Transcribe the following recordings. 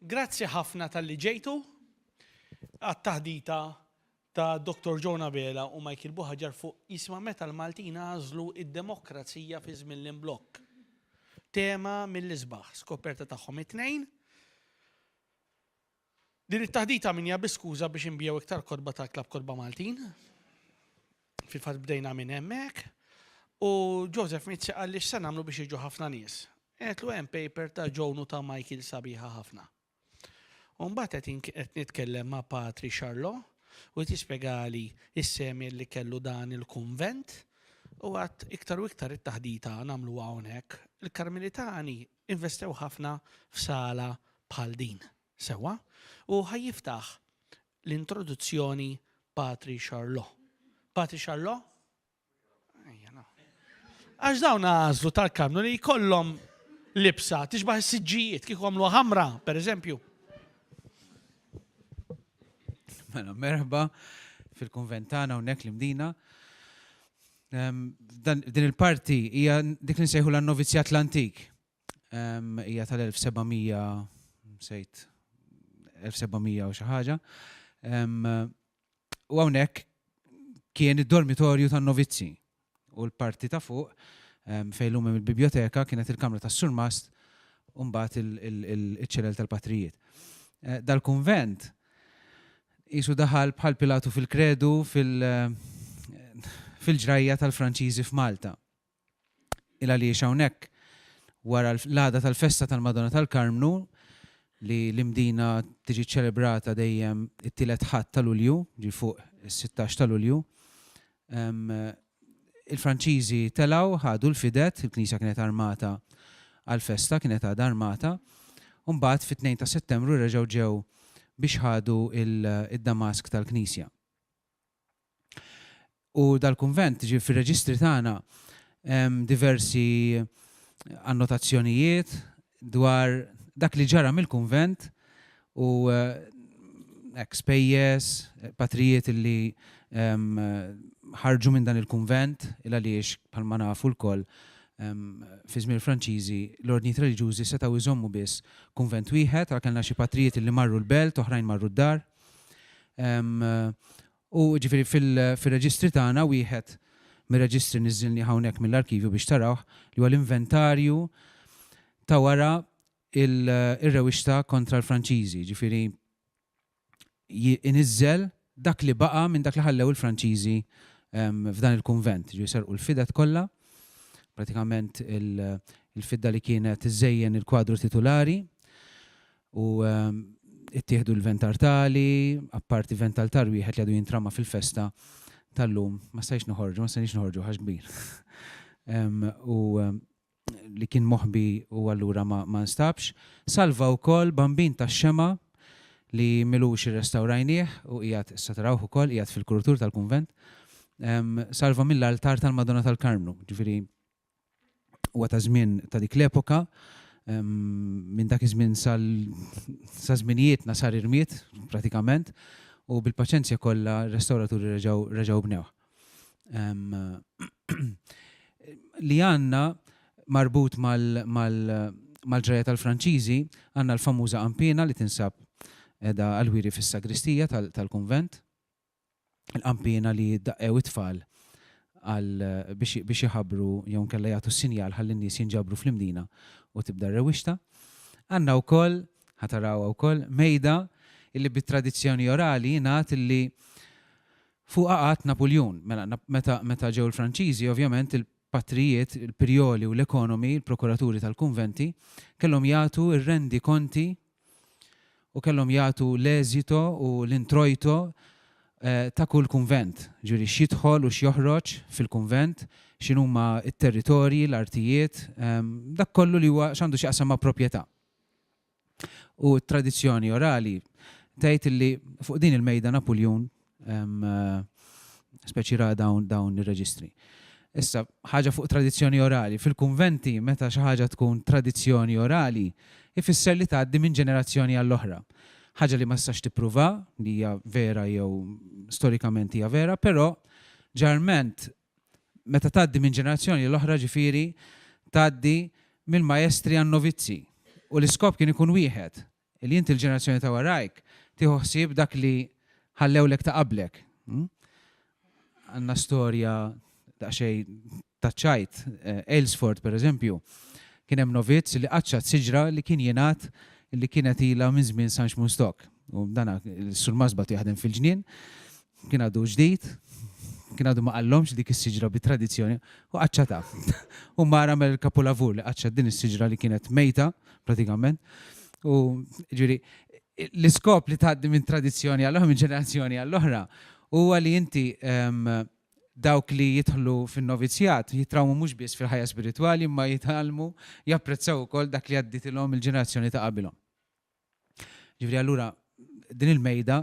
Grazzi ħafna tal-li ġejtu għat-taħdita ta' Dr. John Abela u Michael Buħaġar fuq jisma meta l-Maltin għażlu id-demokrazija fi żmien l-imblokk. Tema mill-isbaħ, skoperta tagħhom it-tnejn. Din it-taħdita minn hija bi skuża biex inbigħu iktar kotba tal-Klabb Kotba Maltin. Fil-fatt bdejna minn hemmhekk. U Joseph Mizzi qal li x'se nagħmlu biex jiġu ħafna nies. Għedtlu hemm paper ta' Joan u ta' Michael sabiħa ħafna. U mbagħad qed qed nitkellem ma' Patri Xarlo u qed jispjegali s-semien li kellu dan il-kunvent u għad iktar u iktar it-taħdita nagħmluha hawnhekk. Il-Karmelitani Investew ħafna f'sala bħal din, sewwa, u ħa jiftaħ l-introduzzjoni Patri Charlot. Patri Charlot? Ejja, no. Għax dawn għażlu tal-Karmnu li jkollhom libsa tixbaħ is-siġġijiet kieku għamlu ħamra, per eżempju. Mela, merħba fil-konventana unnek l-imdina. Din il-parti hija dik li nsejħu l-Novizjat l-Antik. Hija tal-1700 sejt 1700 u xi ħaġa. U hawnhekk kien id-dormitorju tan-novizzi u l-parti ta' fuq fejn hemm il-biblioteka kienet il-kamra tas-surmast u mbagħad il-ċelel tal-patrijiet. Eh, dal-kunvent Qisu daħal bħal Pilatu fil-kredu fil fil-ġrajja tal-Franċiżi f'Malta. Il-għaliex hawnhekk wara l-għada tal-festa tal-Madonna tal-Karmnu li l-Imdina tiġi ċċelebrata dejjem it-tielet Ħadd ta' Lulju, ġi fuq is-sittax ta' Lulju, Il-Franċiżi telgħu, ħadu l-fided, il-knisja kienet armata għall-festa, kienet għadha armata, u mbagħad fit-tnejn ta' Settembru reġgħu ġew biex ħadu d-damask tal-knisja. U dal-kunvent, ġifieri fir-reġistri tagħna hemm diversi annotazzjonijiet dwar dak li ġara mill-kunvent u hekk spejjeż, patrijiet li ħarġu minn dan il-kunvent il għaliex bħalma nafu lkoll fi żmien il-Franċiżi l-ordnijiet reliġjużi setgħu jżommu biss kunvent wieħed għalhekk kellna xi patrijiet li marru l-belt oħrajn marru d-dar U ġifieri fir-reġistri tagħna wieħed mir-reġistri niżżilnih hawnhekk mill-arkivju biex tarawh li huwa l-inventarju ta' wara r-rewixta kontra l-Franċiżi, ġifieri iniżżel dak li baqa' minn dak li ħallew il-Franċiżi f'dan il-kunvent, ġifieri serqu l-fidet kollha, pratikament il-fidda li kienet iżżejjen il-kwadru titulari, u ttieħdu l-ventar tali, apparti vental tar wieħed li għadu jintrama fil-festa tal-lum, ma stajx noħorġu, ma stajniex noħorġu ħax kbir. U li kien moħbi u allura ma nstabx. Salva wkoll bambin ta' xema li milux irrestawrajnieh u qiegħed issa tarawh ukoll qiegħed fil-krutur tal-kunvent. Salva mill-altar tal-Madonna tal-Karmnu, ġifieri huwa ta' żmien ta' dik l-epoka, minn dak iż-żmien sal sa żminijietna sar irmied pratikament u bil-paċenzja kollha r-restawraturi reġgħu reġgħu bnewh. Li għandna marbut mal mal mal-ġrajja tal-Franċiżi għandna l-famuża qanpiena li tinsab qiegħda għall-wiri fis-sagristija tal-kunvent. il-qanpiena li jiddaqqew it-tfal għal biex biex iħabbru jew inkella jagħtu s-sinjal ħalli n-nies jinġabru fl-Imdina u tibda r-rewwixta. Għandna wkoll, ħa tarawha wkoll, mejda illi bit-tradizzjoni orali jingħad illi fuqha qagħad Napuljun. Mela meta meta ġew il-Franċiżi ovvjament il-patrijiet, il-prijoli u l-ekonomi, il-prokuraturi tal-kunventi, kellhom jagħtu r-rendi konti u kellhom jagħtu l-eżito u l-introjto ta' kull kunvent, ġifieri x'jidħol u x'joħroġ fil-kunvent, x'inhuma t-territorji, l-artijiet, dak kollu li huwa x'għandu x'jaqsam ma' proprjetà. U t-tradizzjoni orali tgħid li fuq din il-mejda Napuljun speċi ra dawn dawn ir-reġistri. Issa, ħaġa fuq tradizzjoni orali. Fil-kunventi, meta xi ħaġa tkun tradizzjoni orali, ifisser li tgħaddi minn ġenerazzjoni għall-oħra. Ħaġa li ma tistax tippruva li hija vera jew storikament hija vera, però ġarment meta tgħaddi minn ġenerazzjoni l-oħra ġifieri tgħaddi mill-majestri għan-novizzi. U l-iskop kien ikun wieħed, li inti l-ġenerazzjoni ta' warajk tieħu ħsieb dak li ħallewlek ta' qablek. Għandna storja daqsxejn taċ-ċajt. Aylesford, pereżempju, kien hemm novizz li qaċċat siġra li kien jingħad li kienet ilha minn żmien San Xmun Stock. U dan is-Sur Masbat jaħdem fil-ġnien. Kien għadu ġdid, kien għadu ma qallhomx dik is-siġra bit-tradizzjoni u qaċċatha. U mar għamel il-kapulavur li qaċċat din is-siġra li kienet mejta pratikament. U ġiri, l-iskop li tgħaddi minn tradizzjoni għall-oħra, minn ġenerazzjoni għall-oħra, huwa li inti ehm, dawk li jidħlu fin-novizjat jitrawmu mhux biss fil-ħajja spiritwali imma jitgħallmu japprezzaw ukoll dak li għadditilhom il-ġenerazzjoni ta' qabilhom. Ġifieri allura din il-mejda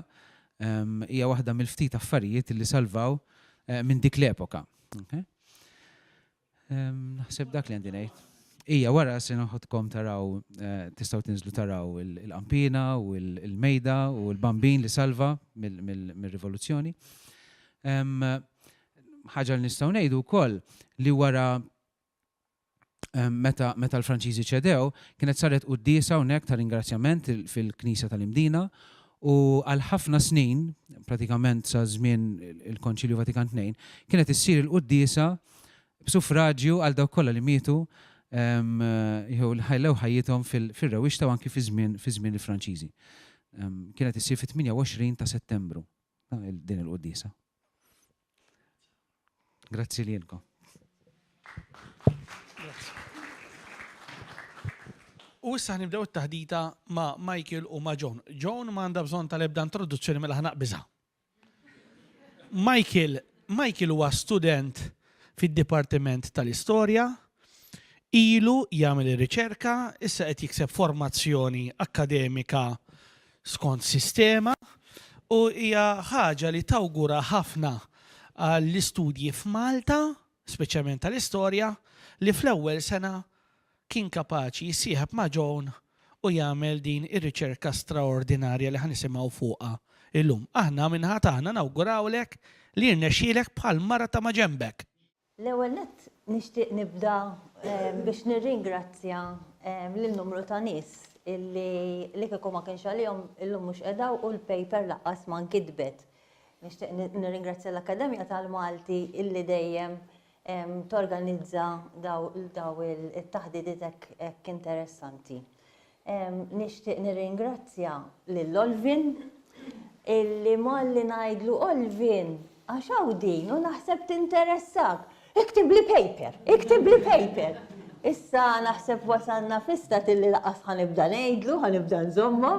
hija waħda mill-ftit affarijiet li salvaw minn dik l-epoka. Naħseb dak li għandi ngħid. Ija, wara se noħodkom taraw, eh, tistaw tinżlu taraw il-qampina u il-mejda u l-bambin li salva mill-rivoluzzjoni. ħaġa li nistaw nejdu kol li wara meta meta l-Franċiżi ċedew, kienet saret quddiesa hawnhekk ta' ringrazzjament fil-Knisja tal-Imdina u għal ħafna snin, pratikament sa żmien il-Konċilju Vatikan Tnejn, kienet issir il-quddiesa b'sufraġju għal dawk kollha li mietu jew li ħajlew ħajjithom fir-rewixta u anki fi żmien fi żmien il-Franċiżi. Kienet issir fit-28 ta' Settembru din il-quddiesa. Grazzi lilkom. U issa nibdew it-taħdita ma' Michael u ma' John. John ma għandha bżonn tal-ebda introduzzjoni mela ħanaq biża. Michael, Michael huwa student fid-Dipartiment tal-Istorja, ilu jagħmel ir-riċerka, issa qed jikseb formazzjoni akkademika skont sistema u hija ħaġa li tawgura ħafna għall-istudji f'Malta, speċjalment tal-istorja, li fl-ewwel sena kien kapaċi jissieħeb ma' Joan u jagħmel din ir-riċerka straordinarja li ħa nisimgħu fuqha llum. Aħna min-naħa tagħna nawgurawlek li jirnexxielek bħall-mara ta' maġenbek. L-ewwel nett nixtieq nibda biex nirringrazzja lil numru ta' nies illi li kieku ma kienx għalihom illum mhux qed hawn u l-paper lanqas ma nkitbet. Nixtieq nirringrazzja l-Akkademja tal-Malti illi dejjem torganizza dawn it-taħditiet hekk interessanti. Nixtieq nirringrazzja lil Olvin illi malli ngħidlu Olvin għax hawn din u naħseb tinteressak. Iktib li paper, iktib li paper. Issa naħseb wasalna fista tilli laqas ħanibda ngħidlu, ħanibda nżomma.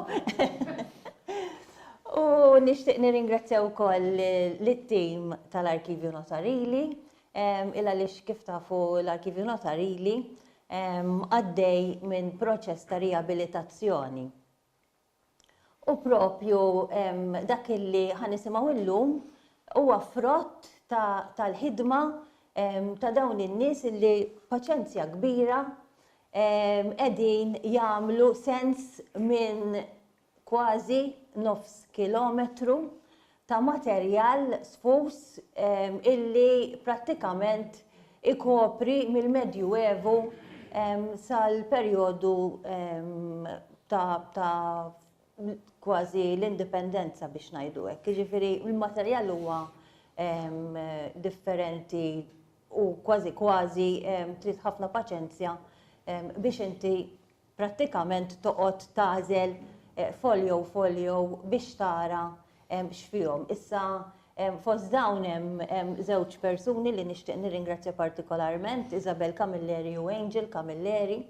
U nixtieq nirringrazzja wkoll lit-tim tal-Arkivju Notarili il għaliex kif tafu l-Arkivju Notarili għaddej minn proċess ta' riabilitazzjoni. U propju dak illi ħanisimgħu illum huwa frott tal-ħidma ta' dawn in-nies illi paċenzja kbira qegħdin jagħmlu sens minn kważi nofs kilometru ta' materjal sfuż illi prattikament ikopri mill-Medjuevu sal-perjodu ta' kważi l-Indipendenza biex ngħidu hekk. Jiġifieri l-materjal huwa differenti u kważi kważi trid ħafna paċenzja biex inti prattikament toqgħod tagħżel folio folio biex tara x'fihom. Issa fost dawn hemm żewġ persuni li nixtieq nirringrazzja partikolarment, Isabel Camilleri u Angel Camilleri,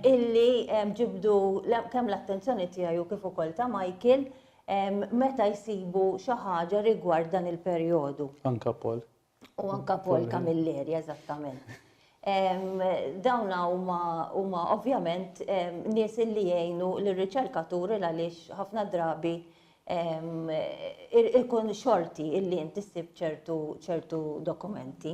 illi ġibdu kemm l-attenzjoni tiegħi u kif ukoll ta' Michael meta jsibu xi ħaġa rigward dan il-perjodu. Anke Paul. U anka Paul Camilleri, eżattament. Dawna huma ovvjament nies li jgħinu l-riċerkaturi għaliex ħafna drabi ikun xorti illi inti ssib ċertu dokumenti.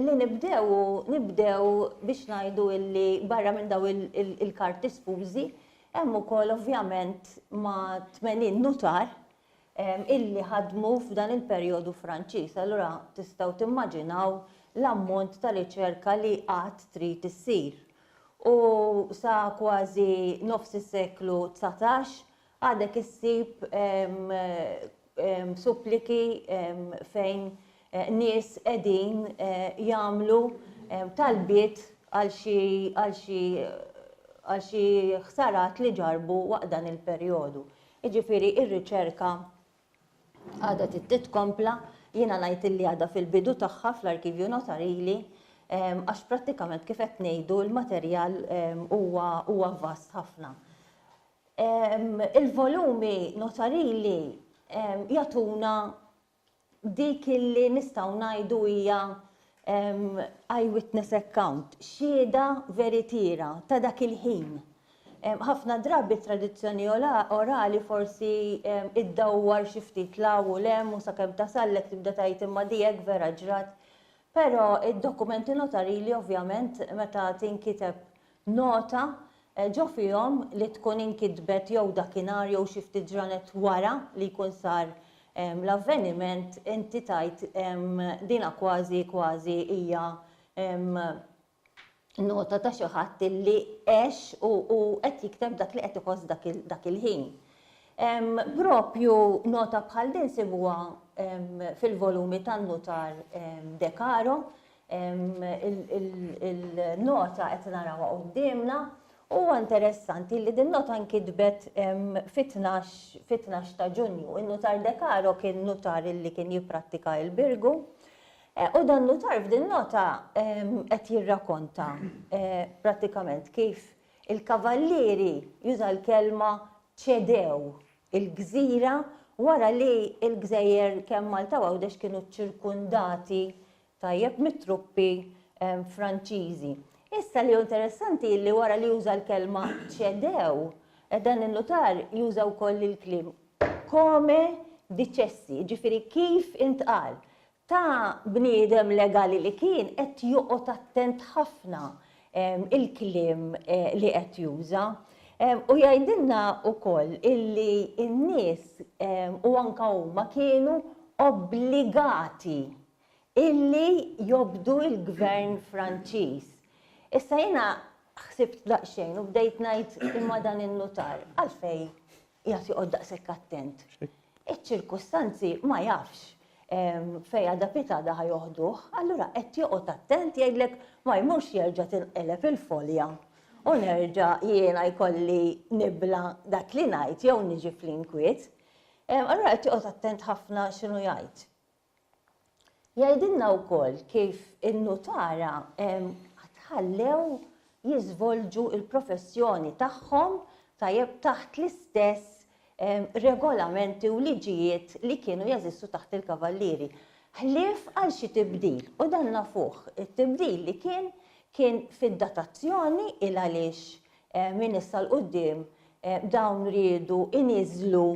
Li nibdew u nibdew biex ngħidu illi barra minn daw il-karti sfużi hemm ukoll ovvjament ma' 80 nutar illi ħadmu f'dan il-perjodu Franċiż. Allura tistgħu timmaġinaw l-ammont ta' riċerka li għad trid issir. U sa kważi nofs is-seklu dsatax Għadek issib suppliki fejn nies qegħdin jagħmlu talbiet għal xi għal xi għal xi ħsarat li ġarrbu waqt dan il-perjodu. Jiġifieri r-riċerka għadha trid titkompla, jiena ngħid illi għadha fil-bidu tagħha fl-Arkivju Notarili għax prattikament kif qed ngħidu l-materjal huwa huwa vast ħafna. Il-volumi notarili jagħtuna dik li nistgħu ngħidu hija eye witness account, xhieda veritiera ta' dak il-ħin. Ħafna drabi t-tradizzjoni orali forsi iddawwar xi ftit 'l hawn u 'l hemm u sakemm tasallek tibda tgħid imma di hekk vera ġrat. Però d-dokumenti notarili ovvjament meta tinkiteb Nota, Ġo fihom li tkun inkitbet jew dakinhar jew xi ftit ġranet wara li jkun sar l-avveniment, inti tgħid dina kważi kważi hija nota ta' xi ħadd illi għex u u qed jikteb dak li qed iħoss dak il dak il-ħin. Proprju nota bħal din sibuha fil-volumi tan-nutar De Caro, Il-nota qed narawha quddiemna. Huwa interessanti li din nota nkitbet fit-tnax ta' Ġunju. In-nutar De Caro kien nutar li kien jipprattika l-Birgu. U dan nutar f'din nota qed jirrakonta prattikament kif il-kavallieri, juża l-kelma, ċedew il-gżira wara li l-gżejjer kemm Malta u Għawdex kienu ċċirkundati tajjeb mit-truppi Franċiżi. Issa li hu interessanti li wara li juża l-kelma ċedew, dan in-nutar juża wkoll il-kliem come dicessi, ġifieri kif intqal ta' bniedem legali li kien qed joqgħod attent ħafna il-kliem eh, li qed juża. U jgħidilna wkoll illi n-nies u anka huma kienu obbligati illi jobdu l-Gvern Franċiż. Issa jiena ħsibt daqsxejn u bdejt ngħid imma dan in-nutar għalfejn qiegħed joqgħod daqshekk attent. Iċ-ċirkustanzi ma jafx fejn għada piet għada ħa joħduh, allura qed joqgħod attent jgħidlek ma jmurx jerġa' tinqeleb il-folja u nerġa' jiena jkolli nibla dak li ngħid jew niġi fl-inkwiet. Allura qed joqgħod attent ħafna x'inhu jgħid. Jgħidilna wkoll kif in-nutara tħallew jiżvolġu l-professjoni tagħhom tajjeb taħt l-istess regolamenti u liġijiet li kienu jeżistu taħt il-kavallieri. Ħlief għal xi tibdil, u dan nafuh, it-tibdil li kien kien fid-datazzjoni il-għaliex Minn issa 'l quddiem dawn riedu jniżżlu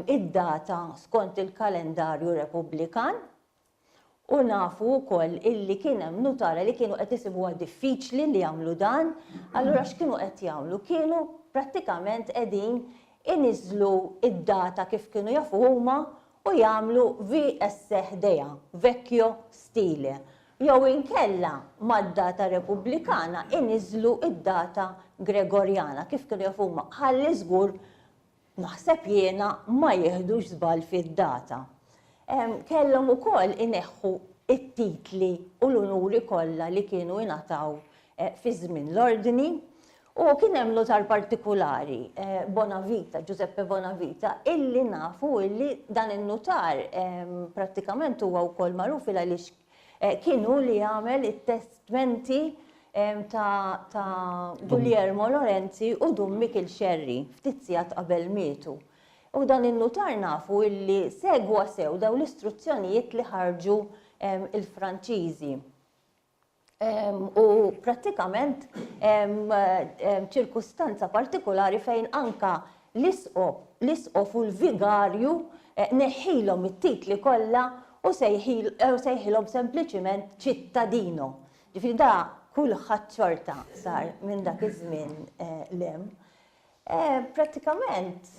d-data skont il-kalendarju Repubblikan u nafu wkoll illi kien hemm nutara li kienu qed isibuha diffiċli li jagħmlu dan, allura x'kienu qed jagħmlu? Kienu prattikament qegħdin iniżżlu d-data kif kienu jafu huma u jagħmlu VSE ħdejha, vecchio stile, jew inkella mad-data Repubblikana iniżżlu d-data Gregorjana, kif kienu jafu huma, ħalli żgur, naħseb jiena, ma jiħdux żball fid-data. Kellhom ukoll ineħħu t-titli u l-unuri kollha li kienu jingħataw fi żmien l-Ordni, U kien hemm nutar partikulari, Bonavita, Giuseppe Bonavita, illi nafu illi dan in-nutar prattikament huwa wkoll magħruf il għaliex kien hu li għamel it-testmenti ta' ta' Guglielmo Lorenzi u Dun Mikiel Scerri ftit sigħat qabel mietu. U dan in-nutar nafu illi segwa sew dawn l-istruzzjonijiet li ħarġu il-Franċiżi. u prattikament ċirkustanza partikulari fejn anka l-isqof u l-vigarju eh, neħħilhom it-titli kollha u eh, sejħilhom sempliċiment ċittadino. Ġifieri da kulħadd xorta sar minn dak iż-żmien eh, lem. Prattikament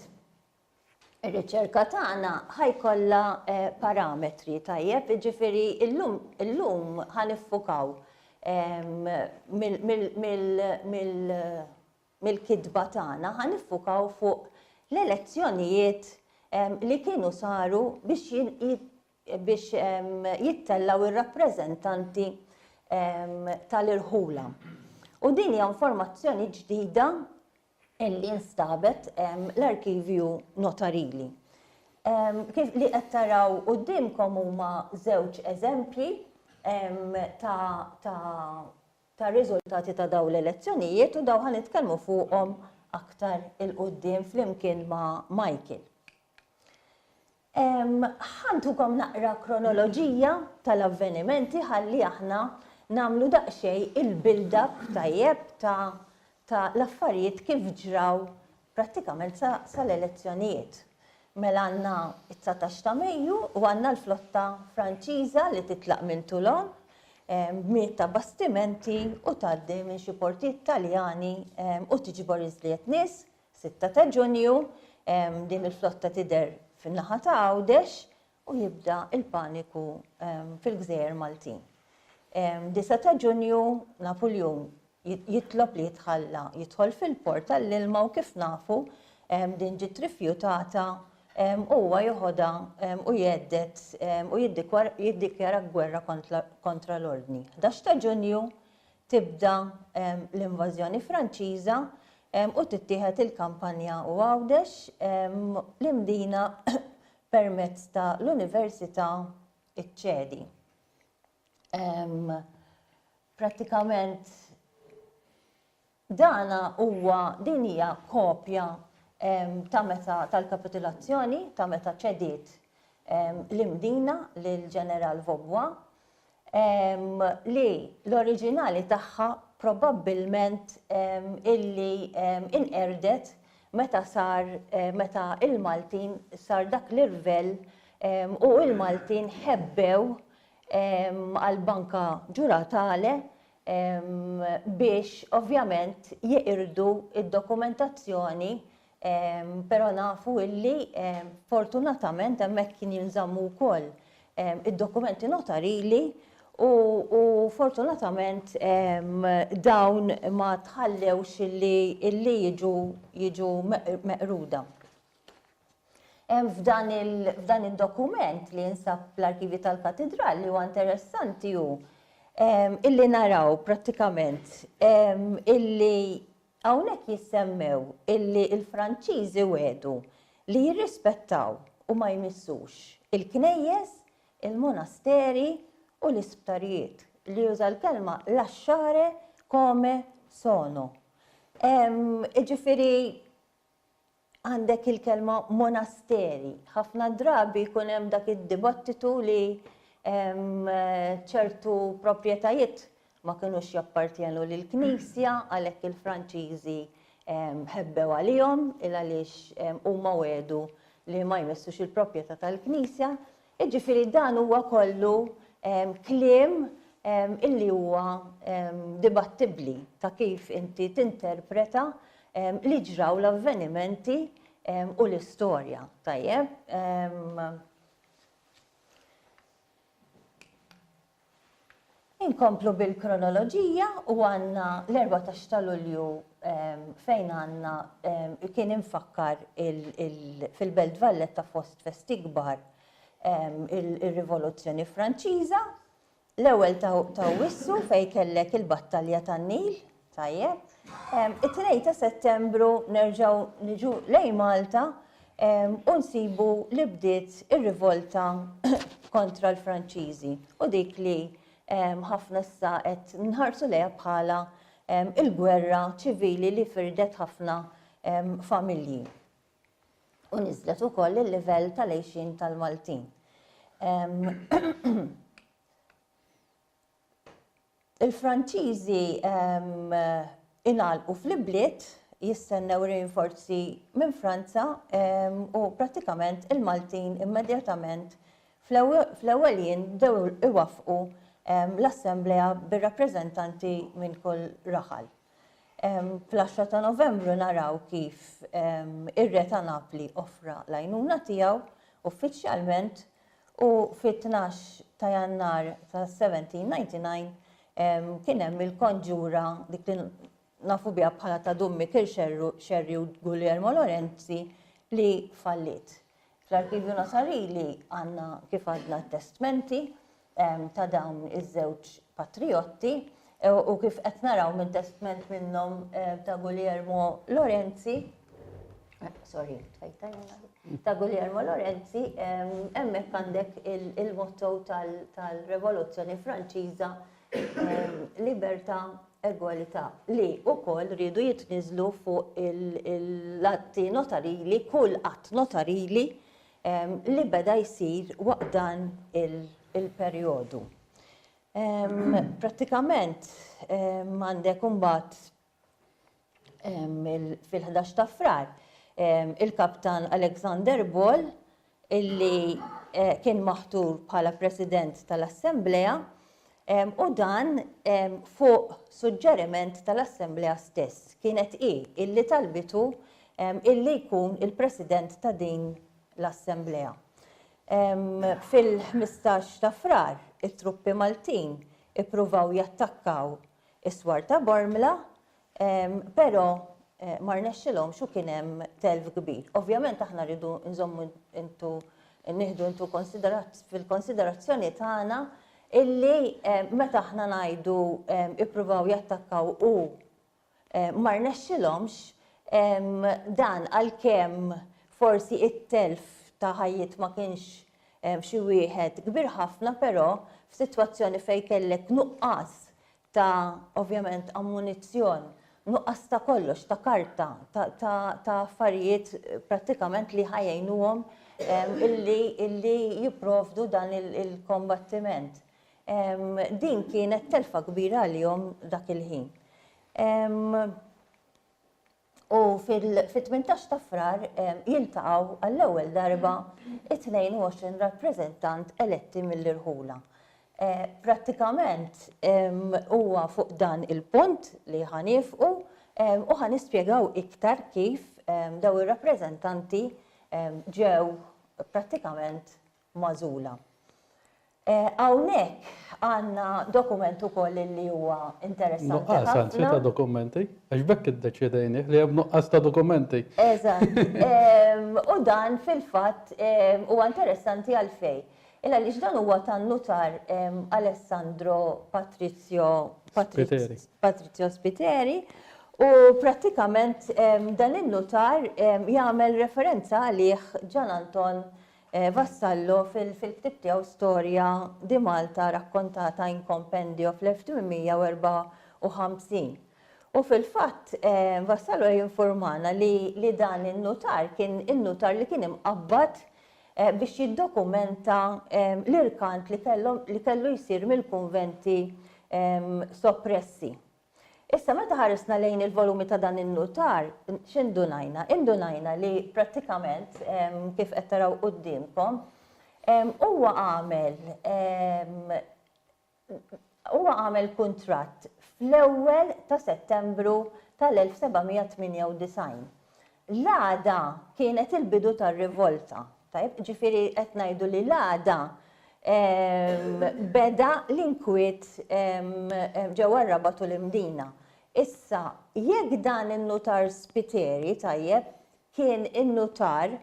Ir-riċerka tagħna ħa jkollha parametri, tajjeb, jiġifieri llum illum ħa niffukaw mill-kitba tagħna ħa niffukaw fuq l-elezzjonijiet li kienu saru biex jittellgħu r-rappreżentanti tal-irħula. U din hija informazzjoni ġdida li nstabet l-arkivju notarili. Kif li qed taraw quddiemkom huma żewġ eżempji ta' ta' ta' riżultati ta' dawn l-elezzjonijiet u dawn ħa nitkellmu fuqhom aktar il-quddiem flimkien ma' Michael. Ħa ntukom naqra kronoloġija tal-avvenimenti ħalli aħna nagħmlu daqsxejn il-build-up tajjeb ta' ta' l-affarijiet kif ġraw prattikament sa sa l-elezzjonijiet. Mela għandna t-dsatax ta' Mejju u għandna l-flotta Franċiża li titlaq minn Toulon b'mijiet ta' bastimenti u tgħaddi minn xi portijiet Taljani u tiġbor iżjed nies Sitta ta' Ġunju, din il-flotta tidher fin-naħa ta' Għawdex u jibda l-paniku fil-gżejjer Maltin. Disa' ta' Ġunju, Napuljun jitlob li jitħalla jidħol fil-port għall-ilma u kif nafu din ġiet rifjutata u huwa jeħodha u jhedded u jiddikjara gwerra kontra l-ordni. Ħdax ta' Ġunju, tibda l-invażjoni Franċiża u tittieħed il-Kampanja u Għawdex li mdina permezz ta' l-Università ċċedi. Prattikament dan huwa din hija kopja ta' meta tal-kapitulazzjoni ta' meta ċediet l-Imdina lill-Ġeneral Vaubois li l-oriġinali tagħha probabbilment illi inqerdet meta sar meta l-Maltin sar dak l-irvell u l-Maltin ħebbew għall-Banka Ġuratale biex ovvjament jeqirdu d-dokumentazzjoni Però nafu illi fortunatament hemmhekk kien jinżammu wkoll id-dokumenti notarili u fortunatament dawn ma tħallewx illi jiġu meqruda. F'dan id-dokument li jinsab fl-arkivji tal-Katidral li huwa interessanti hu illi naraw prattikament illi Hawnhekk jissemmew illi l-Franċiżi wegħdu li jirrispettaw u ma jmissux il-knejjes, il-monasteri u l-isptarijiet, li juża l-kelma lasciare come sono. Jiġifieri Għandek il-kelma monasteri. Ħafna drabi jkun hemm dak id-dibattitu li ċertu proprjetajiet ma kinux jappartjenu lill-Knisja għalhekk il-Franċiżi ħebbew għalihom il għaliex huma wegħdu li ma jmessux il-proprjetà tal-Knisja. Jiġifieri dan huwa kollu kliem illi huwa dibattibbli ta' kif inti tinterpreta li ġraw l-avvenimenti u l-istorja, tajjeb? Inkomplu bil-kronoloġija u għandna l-erbatax ta' Lulju fejn għandna kien imfakkar fil-Belt Valletta fost festi kbar ir-Rivoluzzjoni Franċiża, l-ewwel ta' Awwissu fejn kellek il-Battalja tan-Nil Tajjeb. It-tnejn ta' Settembru nerġgħu niġu lejn Malta u nsibu li bdiet ir-rivolta kontra l-Franċiżi u dik li ħafna issa qed nħarsu lejha bħala il-gwerra ċivili li firdet ħafna familji u niżlet ukoll il-livell tal-għejxien tal-Maltin. Il-Franċiżi ingħalqu fl-ibliet jistennew rinforzi minn Franza u prattikament il-Maltin immedjatament fl-ewwel jien bdew iwaffqu l-assemblea bir-rappreżentanti minn kull raħal. Fl-għaxra ta' Novembru naraw kif ir-Re ta' Napli offra l-għajnuna tiegħu uffiċjalment U fit-tnax ta' Jannar ta' 1799 kien hemm il-konġura dik li nafu biha bħala ta' Dun Mikil Xerri u Guglielmo Lorenzi li falliet. Fl-Arkivju Nasarili għandna kif għadna t-testmenti ta' dawn iż-żewġ patrijotti. U kif qed naraw minn testment minnhom ta' Guglielmo Lorenzi, sorry, ta' Guglielmo Lorenzi, hemmhekk għandek il-motto tal-Revoluzzjoni Franċiża Libertà Egwalità li wkoll riedu jitniżlu fuq l-atti notarili, kull att notarili li beda jsir waqt dan il-perjodu. Prattikament għandek imbagħad fil-11 ta' Frar il-Kaptan Alexander Ball illi eh, kien maħtur bħala President tal-Assemblea u dan fuq suġġeriment tal-Assemblea stess kienet i illi talbitu illi jkun il-President ta' din l-Assemblea. Fil-ħmistax ta' Frar, it-truppi Maltin ippruvaw jattakkaw is-swar ta' Bormla, però ma rnexxilhomx u kien hemm telf kbir. Ovvjament aħna rridu nżommu into nieħdu into fil-konsiderazzjoni tagħna illi meta aħna ngħidu ippruvaw jattakkaw u Ma rnexxilhomx dan għalkemm forsi t-telf ta' ħajjiet ma kienx xi wieħed kbir ħafna però f'sitwazzjoni fejn kellek nuqqas ta' ovvjament ammunizzjon, nuqqas ta' kollox, ta' karta, ta' affarijiet prattikament li ħa jgħinuhom illi jipprovdu dan il-kombattiment. Din kienet telfa kbira għalihom dak il-ħin. U fil-18 ta' frar jiltaqaw għall-ewwel darba 22 rappreżentant eletti mill-irħula. Eh, prattikament huwa fuq dan il-punt li ħanifqu u ħanispjegaw iktar kif daw ir-rappreżentanti ġew prattikament magħżula. Hawnhekk għandna dokument ukoll li huwa interessanti ħafna. Nuqqas anzi ta' dokumenti, għax b'hekk iddeċiedejnih li hemm nuqqas ta' dokumenti. Eżatt. U dan fil-fatt huwa interessanti għalfejn? Il għaliex dan huwa tan-Nutar Alessandro Patrizio Patrizio Spiteri u prattikament dan in-Nutar jagħmel referenza għalih Gian Anton Vassallo fil-ktieb tiegħu Storja di Malta raccontata in compendio fl-1854. U fil-fatt Vassallo jinfurmana li dan in-nutar kien in-nutar li kien imqabbad biex jiddokumenta l-irkant li kellu jsir mill-kunventi soppressi. Issa meta ħarisna lejn il-volumi ta' dan in-nutar, x'indunajna? Indunajna li prattikament, kif qed taraw quddiemkom, huwa għamel huwa għamel kuntratt fl-ewwel ta' Settembru tal-1798. L-għada kienet il-bidu tar-rivolta. Tajjeb, ġifieri qed ngħidu li l-għada beda l-inkwiet ġewwa r-Rabat u l-Imdina. Issa, jekk dan in-nutar Spiteri, tajjeb, kien in-nutar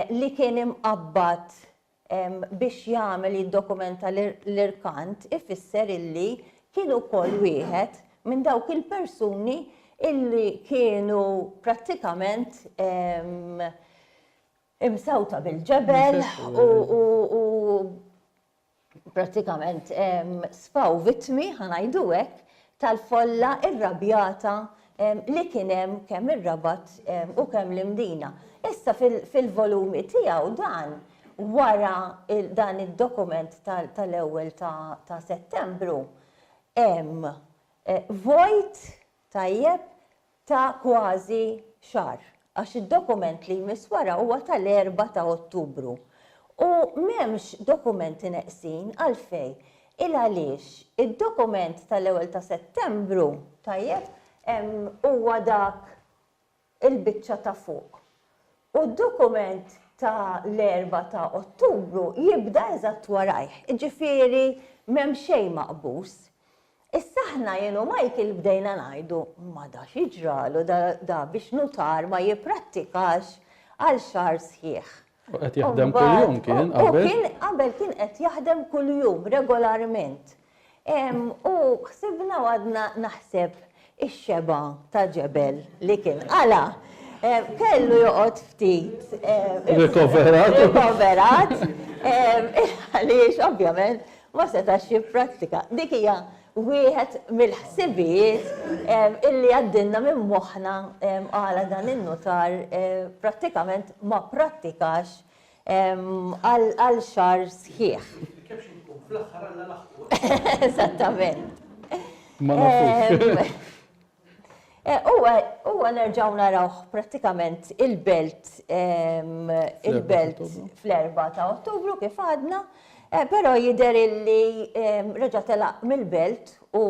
li kien imqabbad biex jagħmel jiddokumenta l-irkant ifisser illi kien ukoll wieħed minn dawk il-persuni illi kienu prattikament imsewta bil-ġebel u prattikament sfaw vittmi ħa ngħidu hekk tal-folla irrabjata li kien hemm kemm ir-Rabat u kemm l-Imdina. Issa fil-volumi tiegħu dan wara dan id-dokument tal-ewwel ta' Settembru hemm vojt tajjeb ta' kważi xahar, għax id-dokument li jmiss wara huwa tal-erbgħa ta' Ottubru. U m'hemmx dokumenti neqsin, għalfejn? Il-għaliex id-dokument tal-ewwel ta' Settembru, tajjeb, huwa dak il-biċċa ta' fuq. u d-dokument ta' l-erbgħa ta' Ottubru jibda eżatt warajh, jiġifieri m'hemm xejn maqbuż. Issa aħna jien u Michael bdejna ngħidu, ma da x'jiġralu da da biex nutar ma jipprattikax għal xahar sħiħ. U qed jaħdem kuljum kien qabel? U kien qabel kien qed jaħdem kuljum regolarment. U ħsibna u għadna naħseb, ix-xebgħa ta' ġebel li kien qala', kellu joqgħod ftit. Irrikoverat. Irrikoverat. Għaliex, ovvjament, ma setax jipprattika. Dik hija wieħed mill-ħsibijiet illi għaddilna minn moħħna għala dan in-nutar prattikament ma pprattikax għal xahar sħiħ. Eżattament. Ma nafux. Huwa nerġgħu narawh prattikament il-belt il-belt fl-erbgħa ta' Ottubru kif għadna, però jidher illi reġa' telaq mill-belt u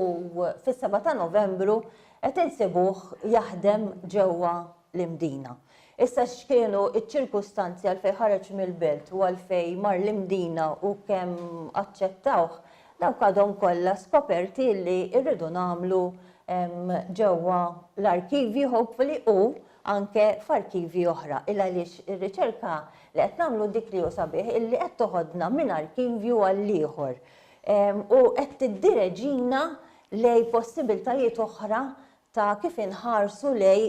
fis-seba' ta' Novembru qed insibuh jaħdem ġewwa l-Imdina. Issa x'kienu ċ-ċirkustanzi għalfejn ħareġ mill-belt u għalfejn mar l-Imdina u kemm aċċettawh, dawk għadhom kollha skoperti li rridu nagħmlu ġewwa l-arkivji hopefully u anke f'arkivji oħra. Il-għaliex ir-riċerka li qed nagħmlu dik li hu sabiħ illi qed toħodna minn arkivju għall-ieħor u qed tiddireġina lejn possibiltajiet oħra ta' kif inħarsu lej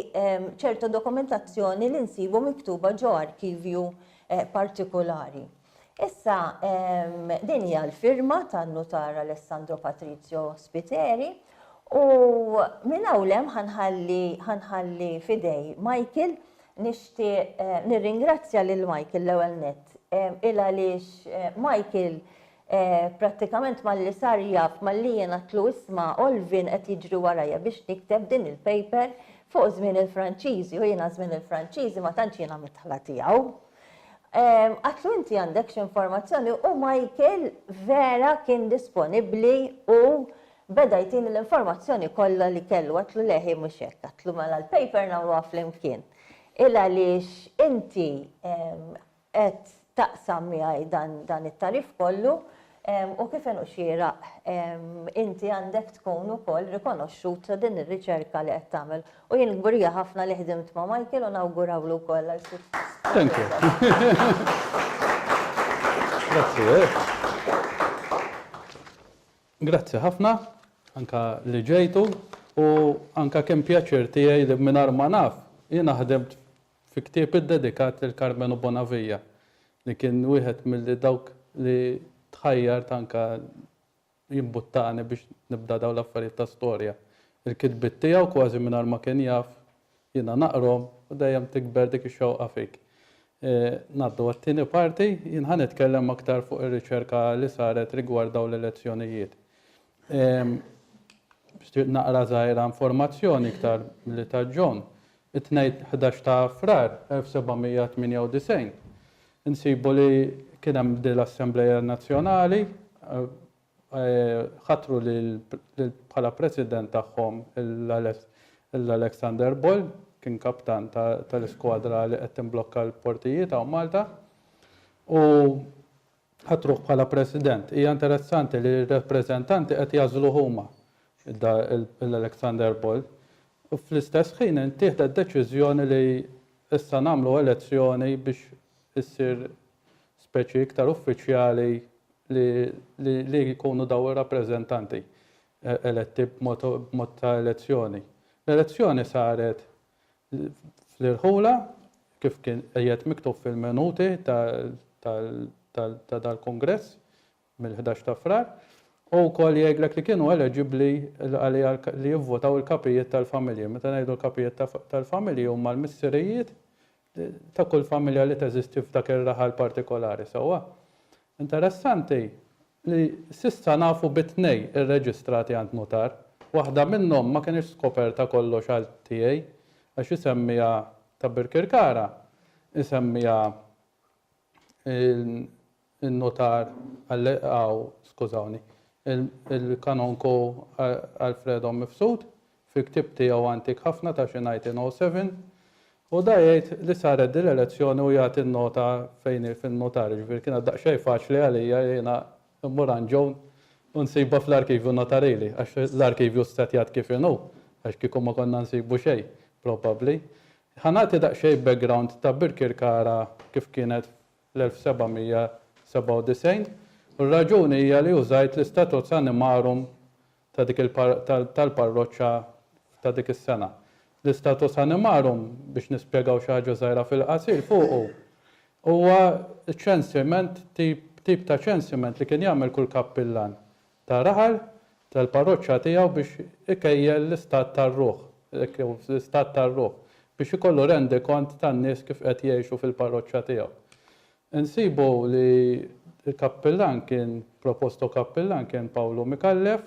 ċerta dokumentazzjoni li nsibu miktuba ġo arkivju partikulari. Issa, din hija l-firma tan-nutar Alessandro Patrizio Spiteri u minn hawn ħanħalli fidej Michael nixtieq eh, nirringrazzja lil Michael l-ewwel nett eh, il għaliex eh, Michael Prattikament malli sar jaf malli jien għadtlu isma' Olvin qed jiġri warajja biex nikteb din il-paper fuq żmien il-Franċiżi u jiena żmien il-Franċiżi ma tantx jiena midħla tiegħu. Għadtlu inti għandek xi informazzjoni u Michael vera kien disponibbli u beda jtini l-informazzjoni kollha li kellu. Għadtlu le hi mhux hekk. Għadtlu mela l-paper nagħmluha flimkien. Il għaliex inti qed taqsam miegħi dan it-tagħrif kollu u kif inhu xieraq inti għandek tkun ukoll rikonoxxut ta' din ir-riċerka li qed tagħmel. U jien kburija ħafna li ħdimt ma' Michael u nawgurawlu wkoll għal suċċess. Thank you. Grazzi. Grazzi ħafna anke li ġejtu u anke kien pjaċir tiegħi li mingħajr ma naf jiena ħdimt Fi ktieb iddedikat lil Karmenu Bonavija, li kien wieħed milli dawk li tħajjart anke jimbuttani biex nibda dawn l-affarijiet ta' storja. Il-kitbiet tiegħu kważi mingħajr ma kien jaf, jiena naqrhom u dejjem tikber dik ix-xewqa fik. Ngħaddu għat-tieni parti, jien ħa nitkellem aktar fuq ir-riċerka li saret rigward dawn l-elezzjonijiet. Biex naqra żgħira informazzjoni iktar li ta' John, it-Tnejn 11 ta' Frar 1798 insibu li kien hemm din l-Assembleja Nazzjonali ħatru bħala President tagħhom l-Alexander Boll kien kaptan tal-iskwadra li qed timblokka l-portijiet hawn Malta u Ħa truh bħala President. Hija interessanti li r-rappreżentanti qed jagħżluh huma, lil Alexander Boll. U fl-istess ħin ittieħdet deċiżjoni li issa nagħmlu elezzjoni biex issir speċi iktar uffiċjali li li jkunu dawn ir-rappreżentanti eletti b'mod ta' elezzjoni. L-elezzjoni saret fl-irħula, kif kien qiegħed miktub fil-minuti ta' dal-kungress mill-ħdax ta' Frar, u wkoll jgħidlek li kienu eleġibbli għaliha li jivvotaw il-kapijiet tal-familji. Meta ngħidu l-kapijiet tal-familji huma l-missirijiet, ta' kull familja li teżisti f'dak ir-raħal partikolari, sewwa? Interessanti li s'issa nafu bi tnej irreġistrati għand nutar. Waħda minnhom ma kinitx skoperta kollox għal tiegħi għax isemmiha ta' Birkirkara isemmiha in-Nutar Allegaw, skużawni, il-Kanonku Alfredo Mifsud, fi ktieb tiegħu antik ħafna ta' xi 1907, u dan jgħid li saret din l-elezzjoni u jagħti n-nota fejn hi fin-Nutar, jiġifieri kienet daqsxejn faċli għalija jiena mmur għand Joan u nsibha fl-Arkivju Notarili, għax l-Arkivju ssetjat kif inhu, għax kieku ma konna nsibu xejn, probabbli. Ħa nagħti daqsxejn background ta' Birkirkara kif kienet fl-1797 u r-raġuni hija li użajt l-istatut animarum ta' dik tal-parroċċa ta' dik is-sena. L-istatut animarum, biex nispjegaw xi ħaġa żgħira fil-qasir fuqu, huwa ċensiment, tip ta' ċensiment li kien jagħmel kull kappillan ta' raħal tal-parroċċa tiegħu biex ikejjel l-istat tar-ruħ, jekk hu fl-istat tar-ruħ, biex ikollu rendikont tan-nies kif qed jgħixu fil-parroċċa tiegħu. Insibu li l-kappillan kien, proposto kappillan kien Pawlu Micallef,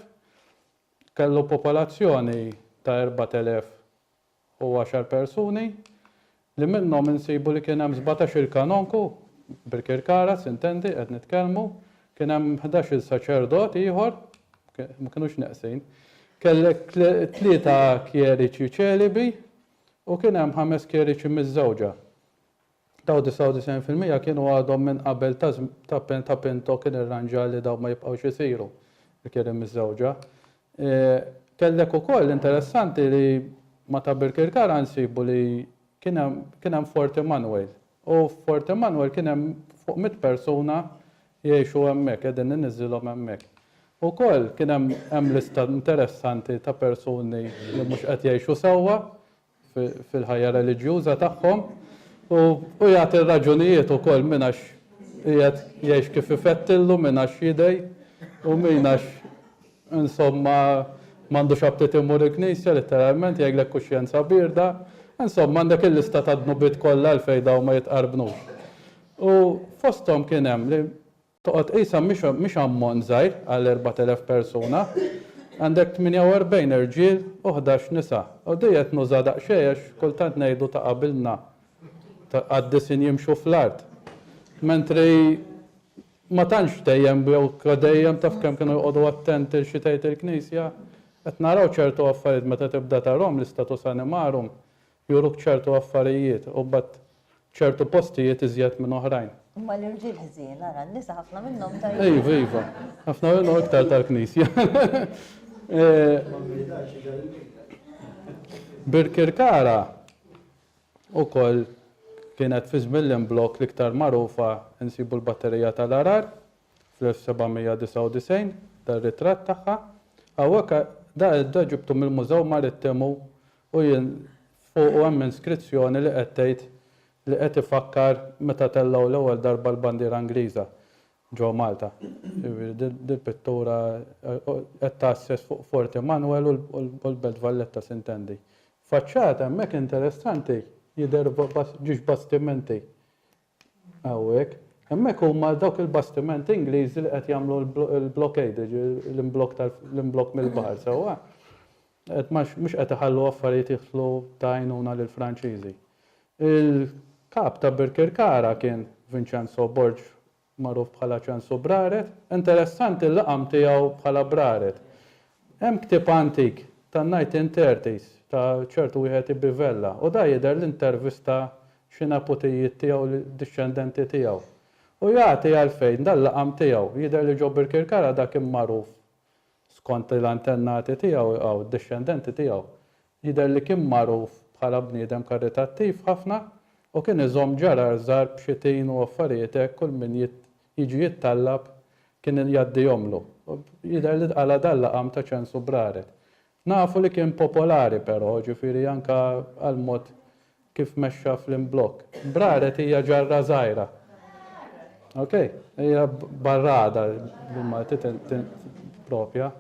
kellu popolazzjoni ta' 4,000 u għaxar persuni, li minnhom insibu li kien hemm sbatax-il kanonku, bil-kirkara, sintendi, qed nitkellmu, kien hemm ħdax-il saċerdot ieħor, ma kinux neqsin, kellek tlieta kjeriċi ċelibi u kien hemm ħames kjeriċi miżżewġa. Dawn 99 fil-mija kienu għadhom minn qabel ta' żm ta' Pinto kien irranġa li dawn ma jibqgħux isiru, il-kliem miżżewġa. Kellek ukoll, interessanti li ma' ta' Birkirkara nsibu li kien hemm kien hemm Fort Immanuel. U f'Fort Immanuel kien hemm fuq mitt persuna jgħixu hemmhekk, qegħdin iniżżilhom hemmhekk. Ukoll kien hemm hemm lista interessanti ta' persuni li mhux qed jgħixu sewwa, fil-ħajja reliġjuża tagħhom u jagħti raġunijiet ukoll minn għax qiegħed jgħix kif ifettillu minn għax jidej u min għax insomma m'għandux aptit imur il-knisja litteralment jgħidlek kuxjenza bierda. Insomma għandek il-lista tad-dnubiet kollha għalfejn dawn ma jitqarbnux. U fosthom kien hemm li Toqgħod qisha mhix mhix ammont żgħir għal 4,000 persuna. Għandek 48 irġiel u ħdax nisa. U di qed nuża daqsxejn għax kultant ngħidu ta' qabilna ta' qaddisin jimxu fl-art. Mentri ma tantx dejjem jew ka dejjem taf kemm kienu joqogħdu attenti l xi tgħid il-Knisja. Qed naraw ċertu affarijiet meta tibda tarahom l-istatus animarum. Juruk ċertu affarijiet u mbagħad ċertu postijiet iżjed minn oħrajn. Imma l-irġiel ħżiena, ara n-nisa ħafna minnhom tajbin. Iva, iva. Ħafna minnhom iktar tal-Knisja. Birkirkara ukoll kienet fi żmien l-imblokk l-iktar magħrufa nsibu l-Batterija tal-Għarar fl-1799 dar-ritratt tagħha. Hawnhekk da ġibtu mill-Mużew Marittimu U jien fuqu hemm inskrizzjoni li qed tgħid li qed ifakkar meta tellgħu l-ewwel darba l-bandiera Ingliża ġo Malta. Jiġifieri dil-pittura qed tgħasses fuq Fort Emanuel u l-Belt Valletta s'intendi. Faċċata hemmhekk interessanti jidher ġiex bastimenti Hawnhekk. Hemmhekk huma dawk il-bastimenti Ingliżi li qed jagħmlu l-blockade, l-imblokk tal, l-imblokk mill-baħar, sewwa? Qed ma, mhux qed iħallu affarijiet jidħlu ta' għajnuna lill-Franċiżi. Il-Kap ta' Birkirkara kien Vincenzo Borg magħruf bħala Ċensu Braret. Interessanti l-laqam tiegħu bħala Braret. Hemm ktieb antik tan-1930s ta' ċertu wieħed Ibi Vella u da jidher li ntervista xi neputijiet tiegħu li dixxendenti tiegħu. U jagħti għalfejn dan l-għam tiegħu. Jidher li ġo Birkirkara da kien magħruf skont il-antennati tiegħu, hawn id-dixxendenti tiegħu, Jidher li kien magħruf bħala bniedem karitattiv ħafna u kien iżomm ġarar żgħar b'xi tin u affarijiet hekk kull min jiġi jittallab kien jgħaddihomlu. Jidher li tqala' dan laqam ta' ċensu b'raret. Nafu li kien popolari però, ġifieri anke għall-mod kif mexxa fl-imblokk. B'raret hija ġarra żgħira. Ok? Hija barrada bil-Malti tippropja.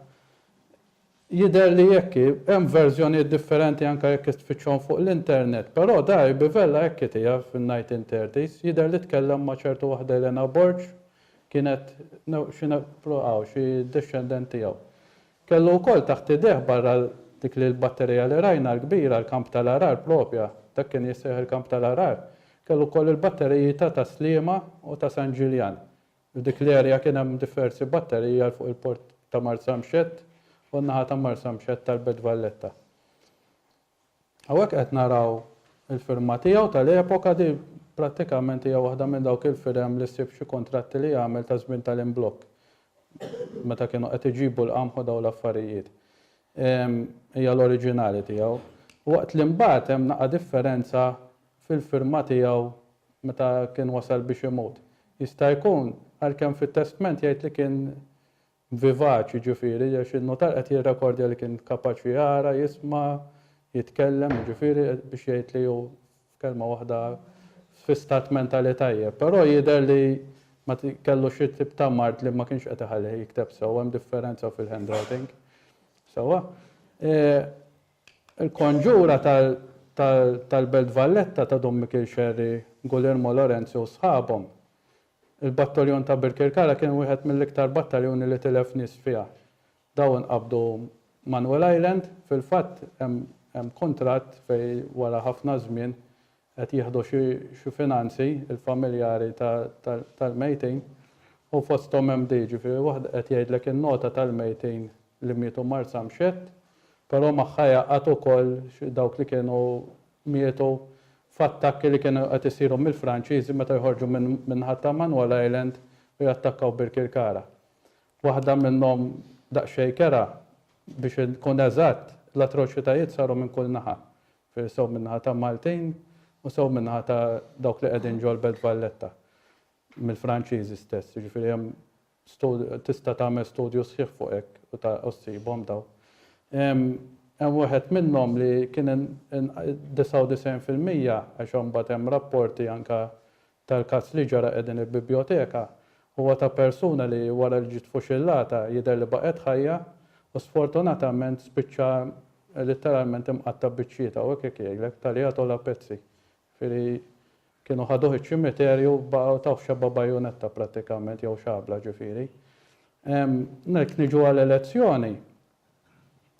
Jidher li hekk hi. Hemm verżjonijiet differenti anke jekk tfittxhom fuq l-internet. Però Dari Bivella hekk hi tiegħu fin-1930s. Jidher li tkellem ma' ċertu waħda Elena Borg, kienet xi hawn xi dexxendent tiegħu. Kellu wkoll taħt idejh barra dik li l-batterija li rajna l-kbira, l-kamp tal-għarar proprja, dak kien jissejjaħ il-kamp tal-għarar, kellu wkoll il-batteriji ta' Tas-Sliema u ta' San Ġiljan. F'dik l-area kien hemm diversi batteriji għal fuq il-port ta' Marsamxett u n-naħa ta' Marsamxett tal-Belt Valletta. Hawnhekk qed naraw il-firma tiegħu tal-epoka, din prattikament hija waħda minn dawk il-firem li ssib f'xi kuntratti li għamel ta' żmien tal-imblokk meta kienu qed iġibu l-qamħ u dawn l-affarijiet. Hija l-oriġinali tiegħu. Waqt li mbagħad hemm naqa' differenza fil-firma tiegħu meta kien wasal biex imut. Jista' jkun, għalkemm fit-testment jgħid li kien vivaċ, jiġifieri, għax in-nutar qed jirrekordja li kien kapaċi jara, jisma', jitkellem, jiġifieri, biex jgħid li hu, f'kelma waħda, fi stat mentali tajjeb. Però jidher li ma kellu xi tip ta' mard li ma kienx qed iħallih jikteb sew, hemm differenza fil-handwriting. Sewwa? Il-konġura tal-Belt Valletta ta' Dun Mikiel Xerri, Gulliermo Lorenzi u sħabhom. Il-Battaljon ta' Birkirkara kien wieħed mill-iktar battaljuni li tilef nies fiha. Daw inqabdu Manuel Island, fil-fatt hemm kuntratt fejn wara ħafna żmien qed jieħdu xi finanzi l-familjari tal-mejtin u fosthom hemm di, jiġifieri waħda qed jgħidlek in-nota tal-mejtin li mietu Marsa Mxett, però magħha jgħaqqad ukoll dawk li kienu mietu f'attakki li kienu qed isiru mill-Franċiżi meta joħorġu min-naħa ta' Manuel Island u jattakkaw Birkirkara. Waħda minnhom daqsxejn kerha, biex inkun eżatt, l-atroċitajiet saru minn kull naħa. Ġifieri sew min-naħa ta' Maltin u sew min-naħa ta' dawk li qegħdin ġol-Belt Valletta, mill-Franċiżi stess. Jiġifieri hemm stud-, tista' tagħmel studju sħiħ fuq hekk u ta-, u ssibhom dawn. Hemm, hemm wieħed minnhom li kien in-, in-, 99 fil-mija, għax imbagħad hemm rapporti anke tal-każ li ġara qegħdin il-bibjoteka huwa ta' persuna li wara li ġiet fuxillata jidher li baqgħet ħajja u sfortunatament spiċċa litteralment imqatta' biċċiet hawnhekk jekk jgħidlek taljatol a pezzi. Jifieri kienu ħaduh iċ-ċimiterju baqgħu tawh xebba bajunetta prattikament jew xabla ġifieri. Jekk niġu għal elezzjoni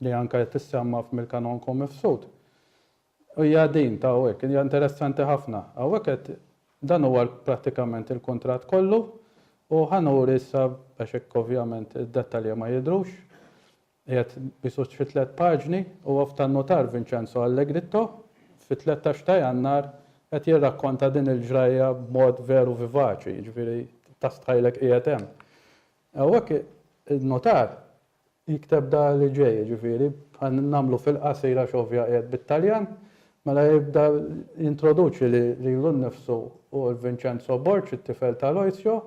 li anke tissemma f'Milka Nonku Mifsud Hija din ta' hawnhekk, hija interessanti ħafna. Hawnhekk qed dan huwa prattikament il-kuntratt kollu u ħa nuri issa għax hekk ovvjament id-dettalji ma jidhrux. Qiegħed biss fi tliet paġni, huwa f'tan-nutar Vincenzo Allegritto, fit-tlettax ta' Jannar qed jirrakkonta din il-ġrajja b'mod veru vivaċi, jiġifieri tastħajlek qiegħed hemm. Hawnhekk in-nutar Jikteb da li ġej, jiġifieri, bħal nagħmlu fil-qasir għax ovvja qiegħed bit-Taljan, mela jibda jintroduċi lilu nnifsu u l Vincenzo Borg, it-tifel ta' Aloisio,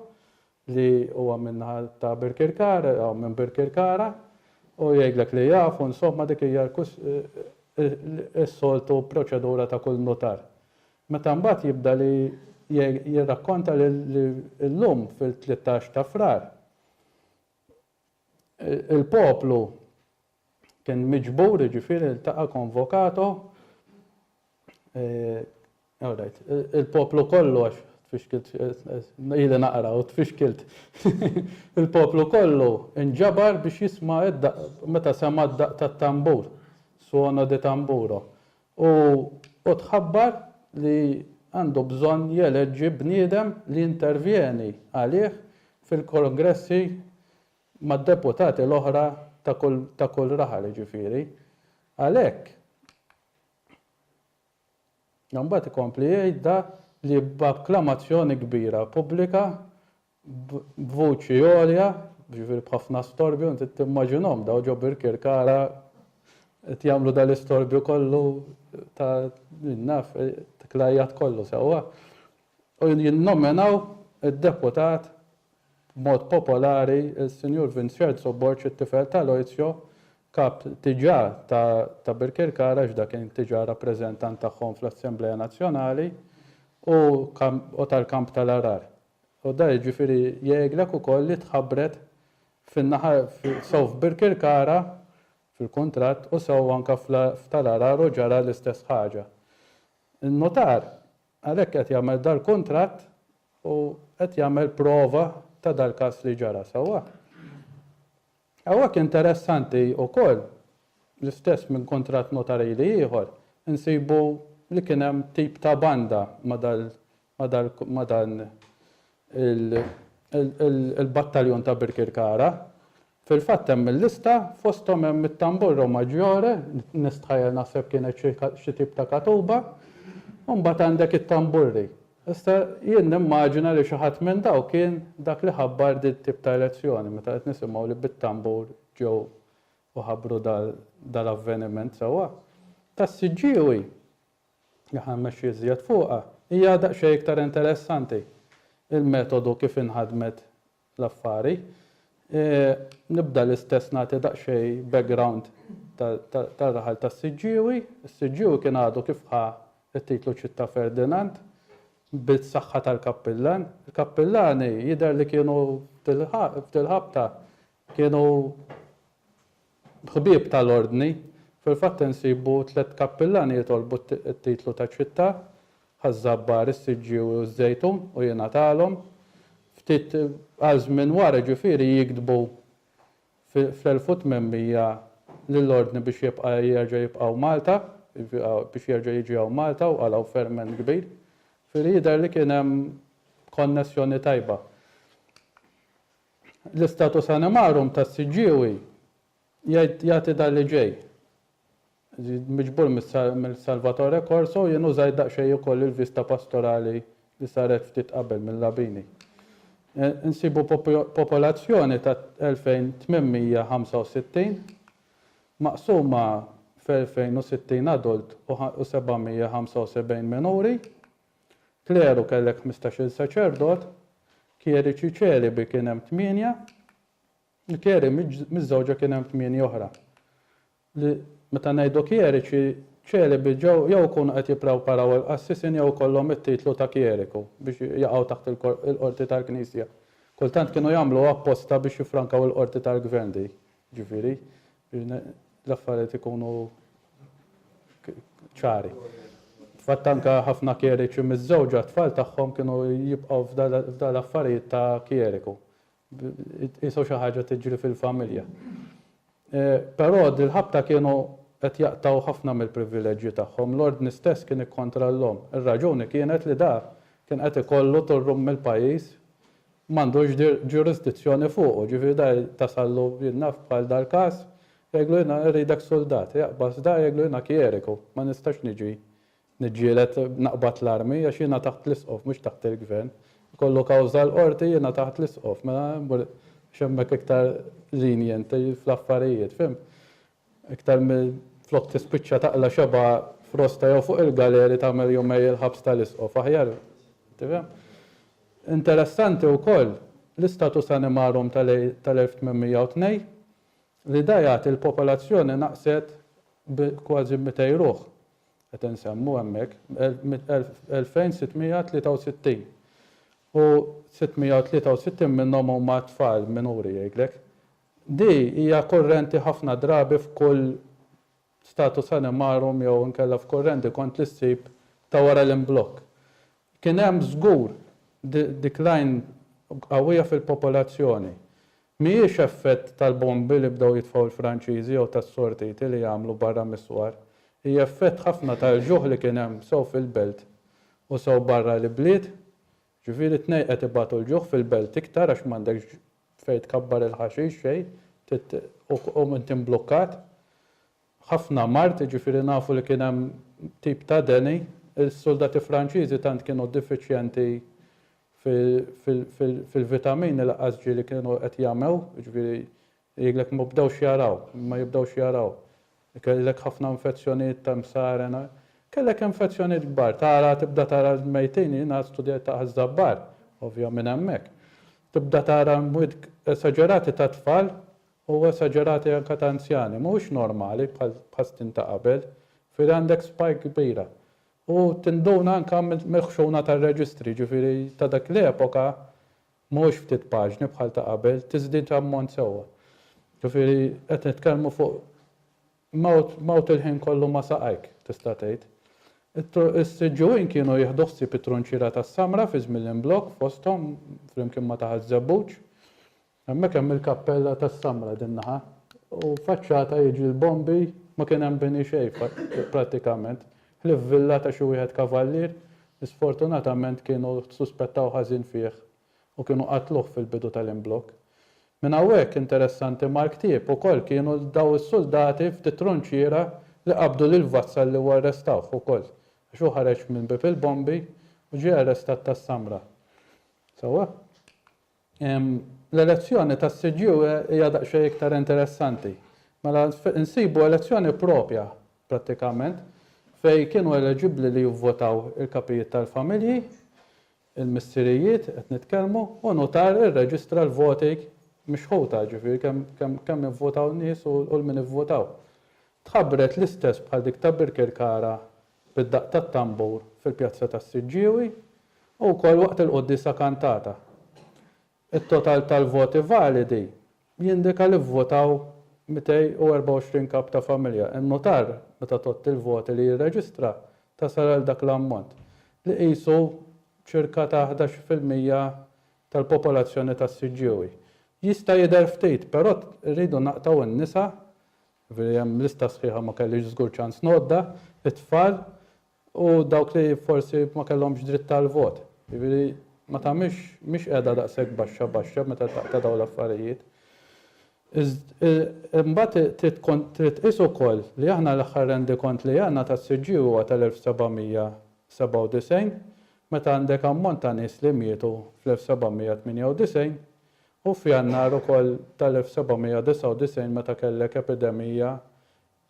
li huwa min-naħa ta' Birkirkara, jew minn Birkirkara, u jgħidlek li jaf, u insomma dik hija s-soltu proċedura ta' kull nutar. Meta mbagħad jibda li jirrakkonta li llum fil-tlittax ta' Frar, Il-poplu kien miġbur, jiġifieri ltaqa' convocato, all right, il-poplu kollu għax tfixkilt, ili naqra u tfixkilt, il-poplu kollu nġabar biex jisma' meta sema' d-daqq tat-tambur, suono di tamburo, u u tħabbar li għandu bżonn jeleġġi bniedem li jintervjeni għalih fil-kongressi mad-deputati l-oħra ta' kull ta' kull raħal jiġifieri għalhekk Imbagħad ikompli jgħid da li b'akklamazzjoni kbira pubblika b'vuċi għolja, jiġifieri b'ħafna storbju, inti timmaġinhom dawn ġo Birkirkara qed jagħmlu dal-istorbju kollu ta' min naf, dak l-għajjat kollu sewwa, u jinnominaw id-deputat b'mod popolari s-Sinjur Vinċerzo Borg it-tifel ta' Loizio, kap tiġà ta' Birkirkara għax da kien tiġà rappreżentant tagħhom fl-Assemblea Nazzjonali u tal-Kamp tal-Għargħar. U dan jiġifieri jgħidlek ukoll li tħabbret fin-naħa sew f'Birkirkara fil-kuntratt u sew anke f'Tal Għargħar u ġara l-istess ħaġa. In-nutar għalhekk qed jagħmel dal-kuntratt u qed jagħmel prova ta' dal-każ li ġara, sewwa? Hawnhekk interessanti ukoll l-istess minn kuntratt nutarili ieħor insibu li kien hemm tip ta' banda ma' ma' dan il-battaljon ta' Birkirkara. Fil-fatt hemm il-lista, fosthom hemm it-Tamburro Maggiore, nistħajjel naħseb kienet xi tip ta' katuba, u mbagħad għandek it-tamburri. Issa jien nimmaġina li xi ħadd minn dawk kien dak li ħabbar din tip ta' elezzjoni meta qed nisimgħu li bit-tambur ġew u ħabbru dal-avveniment sewwa. Tas-siġġiewi li ħa mmexxi iżjed fuqha, hija daqsxejn iktar interessanti, il-metodu kif inħadmet l-affari. Nibda l-istess nagħti daqsxejn background tar-raħal tas-Siġġiewi. Is-Siġġiewi kien għadu kif ħa t-titlu Città Ferdinand bis-saħħa tal-kappillan. Il-kappillani jidher li kienu f'dil-ħabta kienu Ħbieb tal-Ordni, Fil-fatt insibu tliet kappillan li jitolbu t-titlu ta' Ċittà, Ħaż-Żabbar, is-Siġġiewi u ż-Żejtun u jingħatalhom. Ftit għal żmien wara, jiġifieri, jiktbu fl-1800 lill-Ordni biex jibqa' jerġa' jibqa' hawn Malta, biex jerġa' jiġi hawn Malta u qalgħu ferment kbir. Jiġifieri jidher li kien hemm konnessjoni tajba. L-istatus animarum tas-siġġiewi jgħid jagħti dan li ġej, miġbur minn Salvatore Corso, jien użajt daqsxejn ukoll il-vista pastorali li saret ftit qabel minn Labini. Insibu popolazzjoni ta' 2,865, maqsuma f' 2,060 adult u 775 minuri. Kleru kellek ħmistax-il saċerdot, kjeriċi ċelibi kien hemm tmienja, u kjeri miżżewġa kien hemm tmienja oħra. Li meta ngħidu kjeriċi ċelibi ġew jew ikunu qed jipprewparaw il-qassisin jew ikollhom it-titlu ta' kjeriku biex jaqgħu taħt il-qorti tal-knisja. Kultant kienu jagħmluha apposta biex jiffrankaw il-qorti tal-gvern dik, jiġifieri L-affarijiet ikunu ċari. Fatt anke ħafna kjeriċi miżżewġa t-tfal tagħhom kienu jibqgħu f'dan l-affarijiet ta' kjeriku. Qisha xi ħaġa tiġri fil-familja. Però dil-ħabta kienu qed jaqtgħu ħafna mill-privileġġi tagħhom. L-Ordni stess kien ikkontra l-omm. Ir-raġuni kienet li dak kien qed ikollu turrum mill-pajjiż m'għandux ġurisdizzjoni fuqu, ġifieri da tasallu jien naf bħal dal-każ, jgħidlu jiena irridek suldat, jaqbas da jgħidlu jiena kjeriku, ma nistax niġi niġġieled naqbad l-armi għax jiena taħt l-isqof mhux taħt il-gvern, ikollu kawża l-qorti jiena taħt l-isqof, mela immur għax hemmhekk iktar lenient fl-affarijiet, fhimt? Iktar milli flok tispiċċa taqla' xebgħa f'rosta jew fuq il-galeri tagħmel jumej il-ħabs tal-isqof, aħjar tifhem. Interessanti wkoll l-istatus animarum tal-1802 li da jagħti l-popolazzjoni naqset bi kważi mitej ruħ, qed insemmu hemmhekk, 2663 u 663 minnhom huma tfal minuri jgħidlek, Di hija kurrenti ħafna drabi f'kull status animarum jew inkella f'kurrenti kont li ssib ta' wara l-imblokk. Kien hemm żgur decline qawwija fil-popolazzjoni. Mhijiex effett tal-bombi li bdew jitfgħu l-Franċiżi jew tas-sortiti li għamlu barra mis-swar. Hi effett ħafna tal-ġuħ li kien hemm sew fil-belt u sew barra l-ibliet Ġifieri t-tnejn qed ibatu l-ġuħ fil-belt iktar għax m'għandekx fejn tkabbar il-ħaxix xejn trid u inti mblukkat. Ħafna mard, jiġifieri nafu li kien hemm tip ta' deni. Is-suldati Franċiżi tant kienu difiċjenti fil-vitamini laqqas ġieli kienu qed jagħmew, jiġifieri Jgħidlek ma bdewx jaraw, ma jibdewx jaraw. Kellek ħafna infezzjonijiet ta' msaren, kellek infezzjonijiet kbar. Tara, tibda tara l-mejtin, jiena studjajt ta' Ħaż-Żabbar, ovvja minn hemmhekk. Tibda tara mwiet esaġerati ta' tfal u esaġerati anke ta' anzjani. Mhuwiex normali bħal bħas-snin ta' qabel. Ġifieri għandek spike kbira. U tinduna anke mill-ħxuna tar-reġistri, ġifieri ta' dik l-epoka Mhux ftit paġni bħal ta' qabel, tiżdied ammont sewwa. Ġifieri qed nitkellmu fuq mewt, mewt il-ħin kollu ma' saqajk, tista' tgħid. Is-Siġġuwin kienu jieħdu ħsieb it-trunċiera tas-Samra fi żmien l-imblokk fosthom flimkien ma' ta' Ħaż-Żebbuġ. Hemmhekk hemm il-kappella tas-Samra din naħa u faċċata jiġri l-bombi ma kien hemm bini xejn prattikament. Ħlief Villa ta' xi wieħed kavallier li sfortunatament kienu suspettaw ħażin fih u kienu qatluh fil-bidu tal-imblokk. Minn hawnhekk interessanti mal-ktieb ukoll kienu dawn is-suldati ftit tronċiera li qabdu lil Vassalli u arrestawh ukoll għax hu ħareġ minn Bieb il-Bombi u ġie arrestat tas-Samra. Sewwa? L-elezzjoni tas-CGU hija daqsxejn iktar interessanti. Mela nsibu elezzjoni proprja prattikament fejn kienu eleġibbli li jivvotaw il-kapijiet tal-familji, il-missirijiet qed nitkellmu, u nutar irreġistra l-voti mixħuta, jiġifieri kemm kemm ivvotaw nies u l-min ivvotaw. Tħabbret l-istess bħal dik ta' Birkirkara bid-daqq tat-tambur fil-Pjazza tas-Siġġiewi u wkoll waqt il-quddiesa kantata. It-total tal-voti validi jindika li vvotaw 224 kap ta' familja. In-nutar, meta tgħodd il-voti li jirreġistra, tasal għal dak l-ammont, li qisu ċirka ta' ħdax fil-mija tal-popolazzjoni tas-Siġġiewi. Jista' jidher ftit, però rridu naqtgħu n-nisa Ġifieri hemm lista sħiħa ma kellix żgur ċans ngħoddha, it-tfal u dawk li forsi ma kellhomx dritt tal-vot. Ġifieri ma tagħmilx mhix qiegħda daqshekk baxxa baxxa meta taqta' dawn l-affarijiet. Imbagħad trid tqis ukoll li aħna l-aħħar rendikont li għandna tas-CG huwa tal-1797 meta għandek ammont ta' nies li mietu fl-1798 Hu f'Jannar ukoll tal-1799 meta kellek epidemija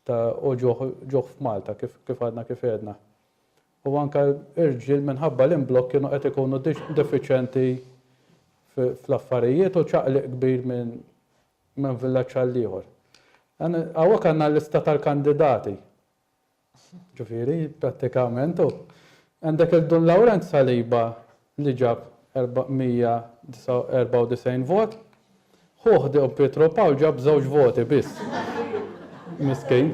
ta' u ġuħ f'Malta kif għadna kif għedna. U anke irġiel minħabba l-imblokk kienu qed ikunu defiċenti fl-affarijiet u ċaqliq kbir minn villaġġ għall-ieħor. Hawnhekk għandna l-lista tal-kandidati Ġifieri, prattikament hu. Għandek lil Dun Lawrenz Saliba li ġab 494 vot. Ħuh Dun Pietro Pawl ġab żewġ voti biss. Miskin.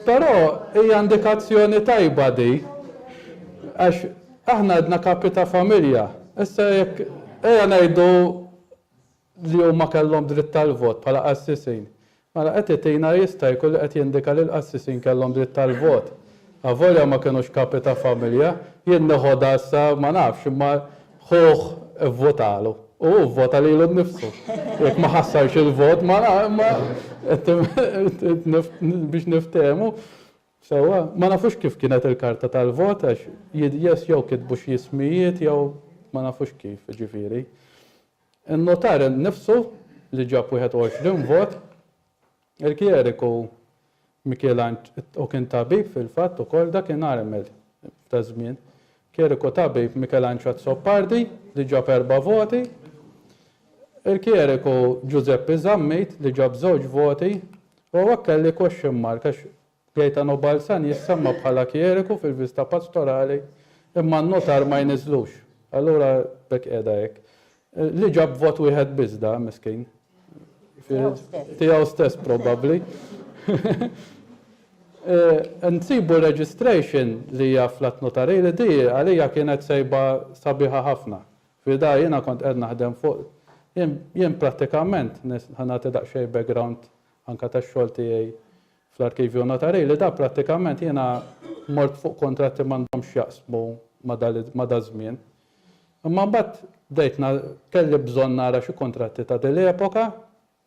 Però hija indikazzjoni tajba di għax aħna għadna kapi ta' familja. Issa jekk ejja ngħidu li huma kellhom dritt tal-vot bħala qassisin. Mela qed itina jista' jkun li qed jindika li l-qassisin kellhom dritt tal-vot. Avolja ma kinux kapi ta' familja, jien neħodha issa ma nafx imma ħuh ivvutalu u hu vvota lilu nnifsu. Jekk ma ħassarx il-vot ma nafx imma biex niftehmu sewwa. Ma nafux kif kienet il-karta tal-vot għax jidhjes jew kitbu xi ismijiet jew ma nafux kif, jiġifieri. In-nutar innifsu li ġab 21 vot, il-Kjeriku Mikiel Anġ u kien tabib fil-fatt ukoll dakinhar hemmhekk taż-żmien, Kjeriku tabib Mikel Anġ Azzopardi li ġab erba' voti, il-Kjeriku Ġużeppi Zammit li ġab żewġ voti u hawnhekk kelli question mark għax Gaetano Balzan jissemma bħala kjeriku fil-viżta pastorali imma n-notar ma jniżżlux. Allura b'hekk qiegħda hekk. Li ġab vot wieħed biss da, miskin. Tiegħu stess probabbli. Nsibu registration li hija fl-Att Notarij li di għalija kienet sejba sabiħa ħafna. Fida jiena kont qed naħdem fuq jien prattikament, ħa nagħti daqsxejn background anke tax-xogħol tiegħi fl-arkivju notarili, dan prattikament jiena mort fuq kuntratti m'għandhomx x'jaqsmu ma' daż-żmien. Imma mbagħad bdejt kelli bżonn nara xi kuntratti ta' din l-epoka,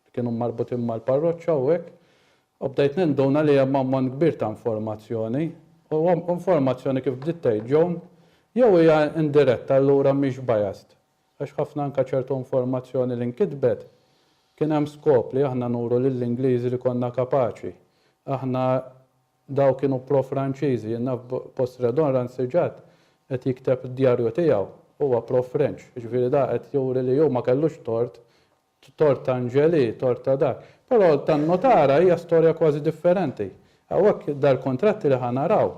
li kienu marbutin mal-parroċċa u hekk, u bdejt ninduna li hemm ammont kbir ta' informazzjoni, u informazzjoni kif bdiet tgħid Joan, jew hija indiretta allura mhix biased, Għax ħafna anke ċertu informazzjoni li nkitbet kien hemm skop li aħna nuru lill-Ingliżi li konna kapaċi. Aħna daw kienu pro-Franċiżi, jien naf post Redon Rancigat qed jikteb d-djarju tiegħu, huwa pro-French, jiġifieri da qed juri li hu ma kellux tort Tort ta' Angelì, tort ta' dak. Però tan-Notara hija storja kważi differenti. Hawnhekk dal-kuntratti li ħa naraw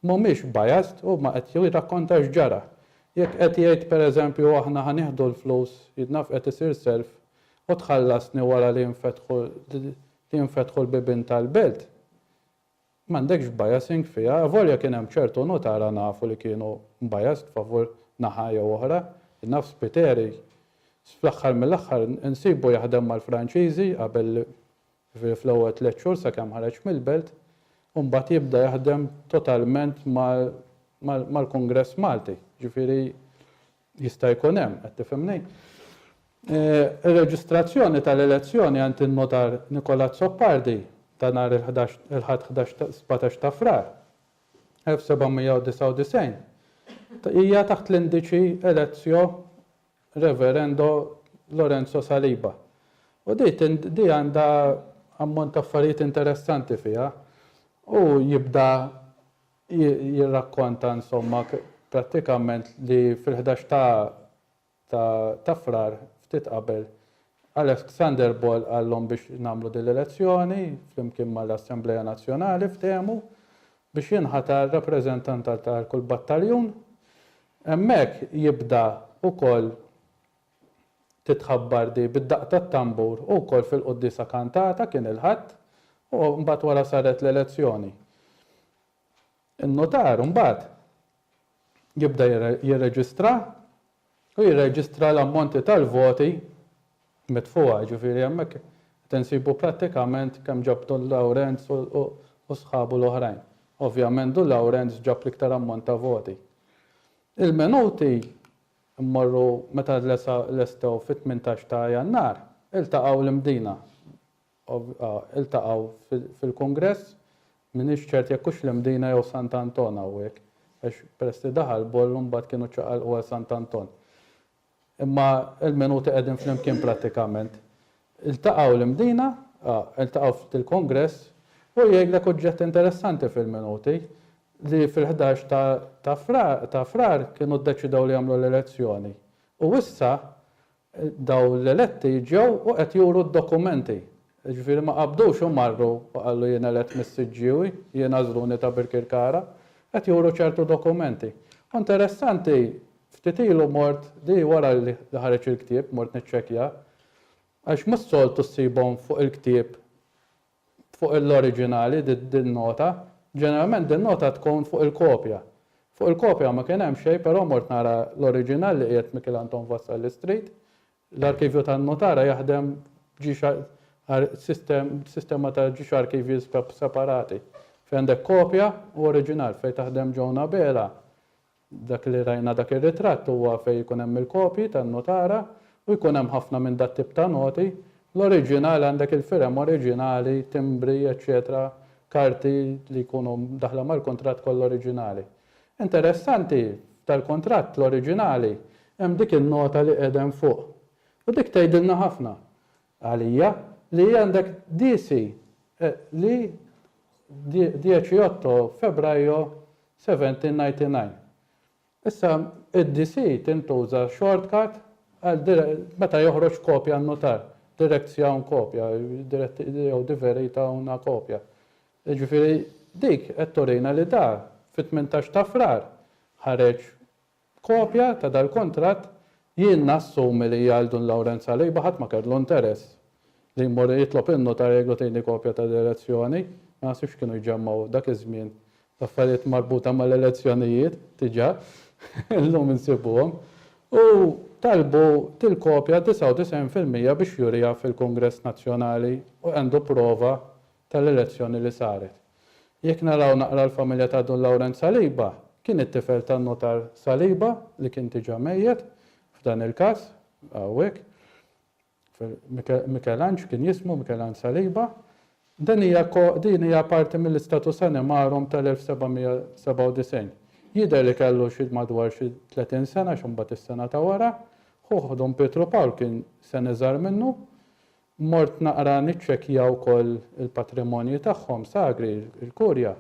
mhumiex biased, huma qed jirrakkonta x'ġara. Jekk qed jgħid pereżempju aħna ħa nieħdu l-flus, jien naf qed isir self, u tħallasni wara li jinfetħu li jinfetħu l-bibien tal-belt, M'għandekx biasing fiha, avolja kien hemm ċertu nutara nafu li kienu biased favur naħa jew oħra. Naf Spiteri fl-aħħar mill-aħħar insibu jaħdem mal-Franċiżi qabel ġifieri fl-ewwel tliet xhur sakemm ħareġ mill-belt u mbagħad jibda jaħdem totalment mal-Kungress Malti. Ġifieri Jista' jkun hemm, qed tifhimni? Ir-reġistrazzjoni tal-elezzjoni għand in-Notar Nicola Azzopardi ta' nhar il-ħdax il-Ħadd ħdax ta' sbatax ta' Frar 1799 hija taħt l-indiċi Elezzio Reverendo Lorenzo Saliba. U di tin di għandha ammont ta' affarijiet interessanti fiha. Hu jibda jirrakkonta insomma prattikament li fil-ħdax ta' ta' ta' Frar, ftit qabel, Alexander Ball qalhom biex nagħmlu din l-elezzjoni flimkien mal-Assemblea Nazzjonali ftehmu biex jinħatar rappreżentant għal kull battaljun. Hemmhekk jibda wkoll Titħabbar di bid-daqq tat-tambur u wkoll fil-quddiesa kantata, kien il-Ħadd, u mbagħad wara saret l-elezzjoni. In-nutar mbagħad jibda jirreġistra u jirreġistra l-ammonti tal-voti mitfugħa, jiġifieri hemmhekk qed insibu prattikament kemm ġab Dun Lawrenz u sħabu l-oħrajn. Ovvjament Dun Lawrenz ġab l-iktar ammont ta' voti. Il-minuti Immorru meta lestew fit-tmintax ta' Jannar, iltaqgħu l-Imdina. Iltaqgħu fil-Kungress, m'iniex ċert jekk hux l-Imdina jew Sant'Anton hawnhekk, għax peress li daħal Boll imbagħad kienu ċċaqalqu għal Sant'Anton. Imma il-minuti qegħdin flimkien prattikament. Iltaqgħu l-Imdina, iltaqgħu ftit il-Kongress u jgħidlek uġġett interessanti fil-minuti li fil-ħdax ta' Frar kienu ddeċidew li jagħmlu l-elezzjoni u issa dawn l-eletti ġew u qed juru d-dokumenti, jiġifieri ma qabdux u marru u qalu jien elett mis-Siġġiewi, jien għażluni ta' Birkirkara, qed juru ċertu dokumenti. U interessanti ftit ilu mort li wara li ħareġ il-ktieb mort niċċekkjah, Għax mhux soltu ssibhom fuq il-ktieb fuq l-oriġinali din-nota, ġeneralment din-nota tkun fuq il-kopja. Fuq il-kopja ma kien hemm xejn però mort nara l-oriġinal li qiegħed Mikiel Anton Vassalli Street. L-arkivju tan-notara jaħdem sistema ta' ġiex arkivji separati fejn għandek kopja u oriġinal fejn taħdem Joan Abela Dak li rajna dak ir-ritratt huwa fejn ikun hemm il-kopji tan-nutara u jkun hemm ħafna minn dat-tip ta' noti. L-oriġinali għandek il-firem oriġinali, timbri, eċċetera, karti li jkunu mdaħħla mal-kuntratt kollha oriġinali. Interessanti, f'dal-kuntratt, l-oriġinali, hemm dik in-nota li qiegħda hemm fuq. U dik tgħidilna ħafna. Għalija, li għandek DC li 18 Febbraio 1799. Issa, id-DC tintuża shortcut għal meta joħroġ kopja n-nutar, direkzja un kopja, jew diverita una kopja. Jiġifieri dik qed turina li da fit-18 ta' Frar ħareġ B'kopja ta' dal-kuntratt, jien nassumi li għal Dun Lawrenz Saliba ħadd ma kellu interess li jmur jitlob in-nutar jgħidlu tini kopja ta' direzzjoni, ma naħsibx kienu jġemmgħu dak iż-żmien l-affarijiet marbuta mal-elezzjonijiet diġà, illum insibuhom, u talbu dil-kopja 99 fil-mija biex juriha fil-Kungress Nazzjonali u għandu prova tal-elezzjoni li saret. Jekk naraw naqra l-familja ta' Dun Lawrence Saliba, kien it-tifel tan-Nutar Saliba li kien diġa mejjet, f'dan il-każ, hawnhekk, Mikelanġ kien jismu, Mikelanġ Saliba. Din hija din hija parti mill-istatus animarum tal-1797. Jidher li kellu xi madwar xi tletin sena x'imbagħad is-sena ta' wara, ħuh Dun Pietru Pawl kien sen iżgħar minnu, Mort naqra niċċekkja wkoll il-patrimonji tagħhom sagri, il-Kurja.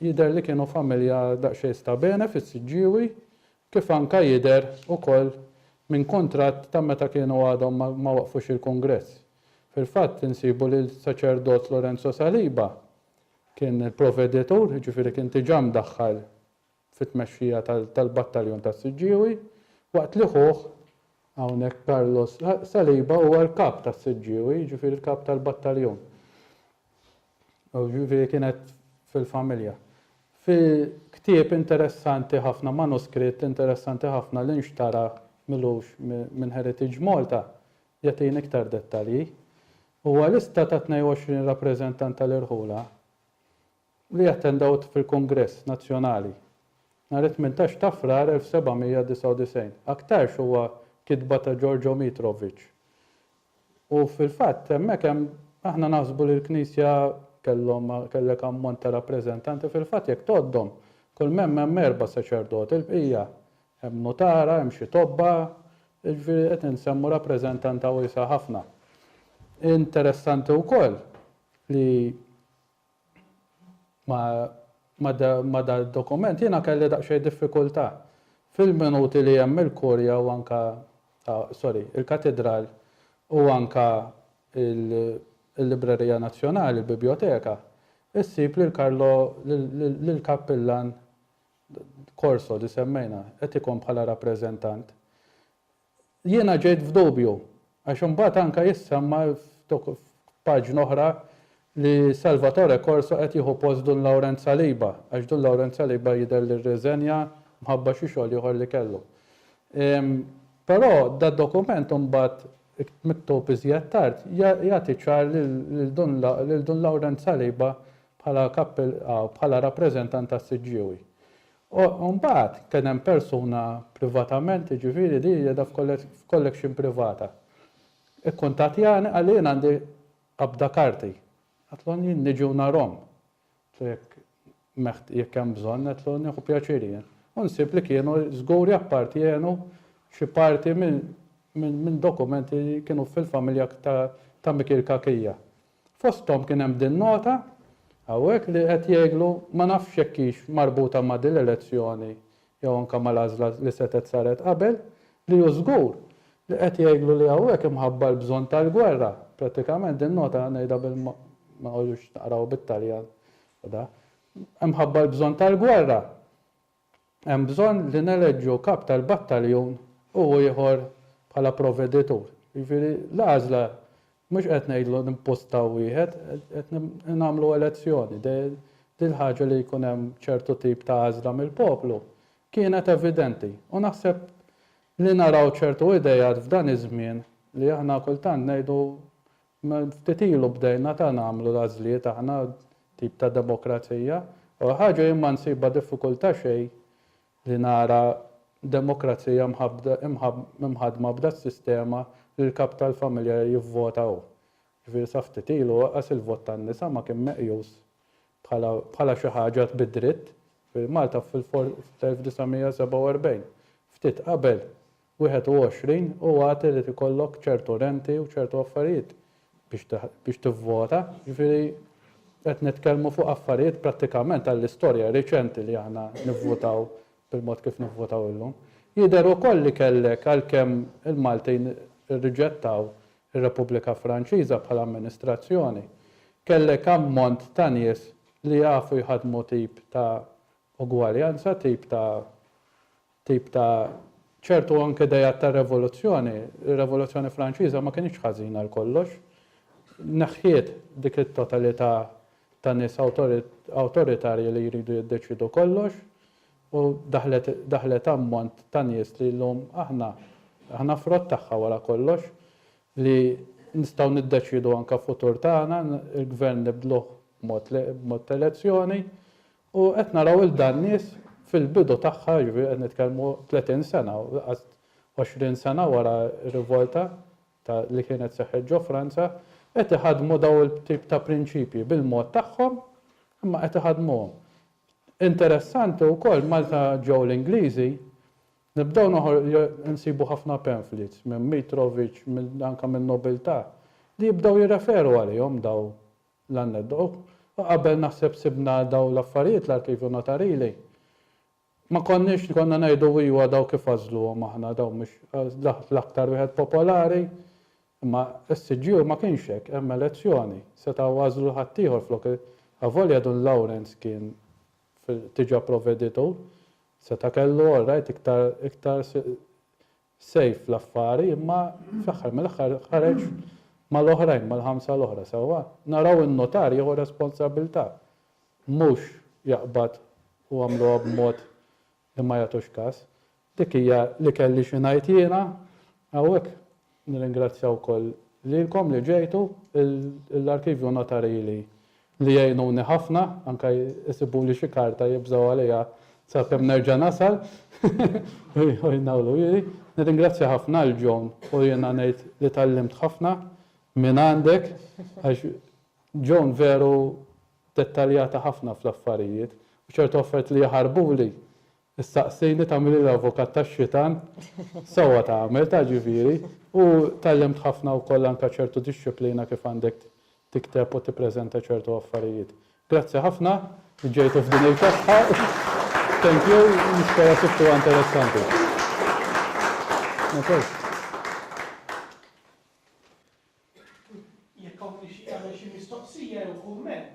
Jidher li kienu familja daqsxejn sta bene fis-Siġġiewi, kif anke jidher ukoll minn kuntratt ta' meta kienu għadhom ma waqqfux il-kungress. Fil-fatt insibu li l-saċerdot Lorenzo Saliba kien il-proveditur, jiġifieri kien diġà mdaħħal fit-tmexxija tal-battaljon tas-Siġġiewi, waqt li ħuh, hawnhekk Carlos Saliba, huwa l-kap tas-Siġġiewi, jiġifieri l-kap tal-battaljon. Jiġifieri kienet fil-familja. Fi ktieb interessanti ħafna, manuskritt interessanti ħafna li nxtara milux minn Heritage Malta, jagħtina iktar dettalji. Huwa lista ta' 22 rappreżentant tal-irħula. li attendewt fil-Kungress Nazzjonali nhar it-tmintax ta' Frar 1799. Aktarx huwa kitba ta' Giorgio Mitrovic. U fil-fatt hemmhekk hemm aħna naħsbu li l-Knisja kellhom kellek ammont ta' rappreżentanti fil-fatt jekk tgħoddhom kull m'hemm hemm erba' saċerdoti l-bqija hemm nutara, hemm xi tobba, jiġifieri qed insemmu rappreżentanta wiesgħa ħafna. Interessanti wkoll li ma' dal-dokument jiena kelli daqsxejn diffikultà. Fil-minuti li hemm il-Kurja u anke, sorry, il-Katidral u anke l-Librerija Nazzjonali, il-Bibjoteka, issib lil Carlo, lill-Kappillan Corso li semmejna, qed ikun bħala rappreżentant. Jiena ġejt f'dubju, għax imbagħad anke jissemma f'paġna oħra li Salvatore Corso qed jieħu post Dun Lawrence Saliba, għax Dun Lawrence Saliba jidher li rriżenja mħabba xi xogħol ieħor li kellu. Però dad-dokument imbagħad, miktub iżjed tard, jagħti ċar lil Dun Lawrence Saliba bħala rappreżentant tas-Siġġiewi. U mbagħad kien hemm persuna privatament, jiġifieri li hija qiegħda f'collection privata, ikkuntattjani qalli jien għandi qabda karti. Għedtlhom jien niġi u narhom. Għedtlhom jekk hemm bżonn, għedtlhom nieħu pjaċir jien. U nsib li kienu żgur jappartjenu xi parti minn dokumenti li kienu fil-familja ta' Mikiel Cachia. Fosthom kien hemm din nota hawnhekk li qed jgħidlu ma nafx jekk hix marbuta ma' din l-elezzjoni jew anke mal-għażla li setgħet saret qabel, li hu żgur li qed jgħidlu li hawnhekk imħabba l-bżonn tal-gwerra. Prattikament din nota ngħidha bil ma noqogħdux naqrawha bit-Taljan u dak. Imħabba l-bżonn tal-gwerra. Hemm bżonn li neleġġu kap tal-battaljun u ieħor bħala provveditur. Jiġifieri l-għażla mhux qed ngħidlu nimpostaw wieħed, qed nagħmlu elezzjoni. Din il-ħaġa li jkun hemm ċertu tip ta' għażla mill-poplu kienet evidenti u naħseb li naraw ċertu ideat f'dan iż-żmien li aħna kultant ngħidu Ftit ilu bdejna ta' nagħmlu l-għażliet aħna, tip ta' demokrazija, u ħaġa jien ma nsibha diffikultà xejn li nara demokrazija mħaddma b'das-sistema li l-kap tal-familja jivvota hu. Jiġifieri sa ftit ilu anqas il-vot tan-nisa ma kien meqjus bħala xi ħaġa bid-dritt. Jiġifieri Malta fl-1947, ftit qabel, 21 u għad irid ikollok ċertu renti u ċertu affarijiet biex tivvota, jiġifieri qed nitkellmu fuq affarijiet prattikament għall-istorja riċenti li aħna nivvutaw bil-mod kif nivvutaw illum. Jidher ukoll li kellek għalkemm il-Maltin irriġettaw ir-Repubblika Franċiża bħala amministrazzjoni, kellek ammont ta' nies li jafu jħaddmu tip ta' ugwaljanza, tip ta' tip ta' ċertu anke dejat ta' revoluzzjoni, ir-Revoluzzjoni Franċiża ma kinitx ħażina għal kollox. Neħħiet dik it-totalità ta' nies awtoritarji li jridu jiddeċiedu kollox u daħlet daħlet ammont ta' nies li llum aħna aħna frott tagħha wara kollox li nistgħu niddeċiedu anke futur tagħna, il-gvern nibdluh b'mod b'mod elezzjoni U qed naraw lil dan nies fil-bidu tagħha, jiġifieri qed nitkellmu 30 sena, inqas 20 sena wara r-rivolta ta' li kienet seħħet ġo Franza, qed iħaddmu dawn il-tip ta' prinċipji bil-mod tagħhom, imma qed iħaddmuhom. Interessanti wkoll malta ġew l-Ingliżi, nibdew noħor, insibu ħafna pamphlets minn Mitrovic, anke min-nobiltà, li jibdew jirreferu għalihom dawn l-anneddu. U qabel naħseb sibna dawn l-affarijiet l-Arkivju Notarili, ma konniex konna ngħidu iwa dawn kif għażluhom aħna, dawn mhux l-aktar wieħed popolari, imma s-CGU ma kienx hekk, hemm elezzjoni, setgħu għażlu ħaddieħor flok il-, avolja Dun Lawrence kien fil-, diġà provveditur, seta' kellu, all right, iktar, iktar, sejf fl-affari imma fl-aħħar mill-aħħar ħareġ mal-oħrajn, mal-ħamsa l-oħra, sewwa? Naraw in-notar jieħu responsabbiltà, mhux jaqbad u għamluha b'mod li ma jagħtux kas. Dik hija li kelli xi ngħid jiena hawnhekk. Nirringrazzja wkoll lilkom li ġejtu, l-Arkivju Notarili li jgħinuni ħafna, anke jsibuli xi karta jibżgħu għaliha sakemm nerġa' nasal u jnawlu ili. Nirringrazzja ħafna lil Joan u jiena ngħid li tgħallimt ħafna minn għandek għax Joan veru dettaljata ħafna fl-affarijiet u ċertu affarijiet li jaħarbuli Issaqsini tagħmilli l-avukat tax-xitan? Sewwa tagħmel, taf ġifieri. U tgħallimt ħafna wkoll anke ċertu dixxiplina kif għandek tikteb u tippreżenta ċertu affarijiet. Grazzi ħafna li ġejtu f'din il-kesħa. Thank you, nispera sibtuha interessanti. Jekk hawn min ixtieq jagħmel xi mistoqsija jew kumment.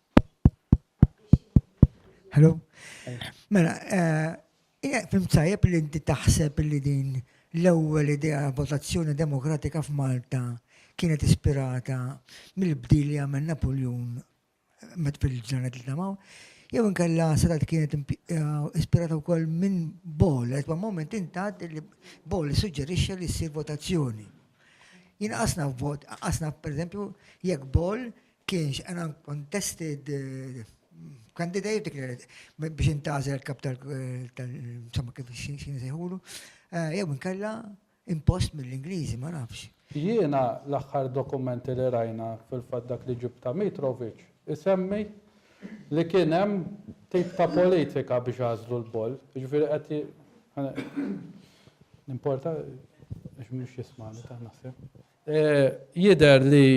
Hello? Mela, eh, fim tajjeb li inti taħseb li din l-ewwel idea votazzjoni demokratika f'Malta kienet ispirata mill-bdil li għamel Napoljun eh, met fil-ġranet li tamaw, jew inkella sadat kienet eh, ispirata wkoll minn Bol, għet ma' moment intat li Bol suġġerixxa li ssir votazzjoni. Jina qasna vot, qasna per jekk Bol Kienx an uncontested candidate declared biex intażel kap tal insomma kif xin sejħulu. Eh, jew inkella impost mill-Ingliżi, ma nafx. Jiena l-aħħar dokumenti li rajna fil-fatt dak li ġib ta' Mitrovic isemmi li kien hemm tip ta' politika biex għażlu l-boll. Ġifieri qed Importa, biex mux jismani ta' naħseb. Jidher li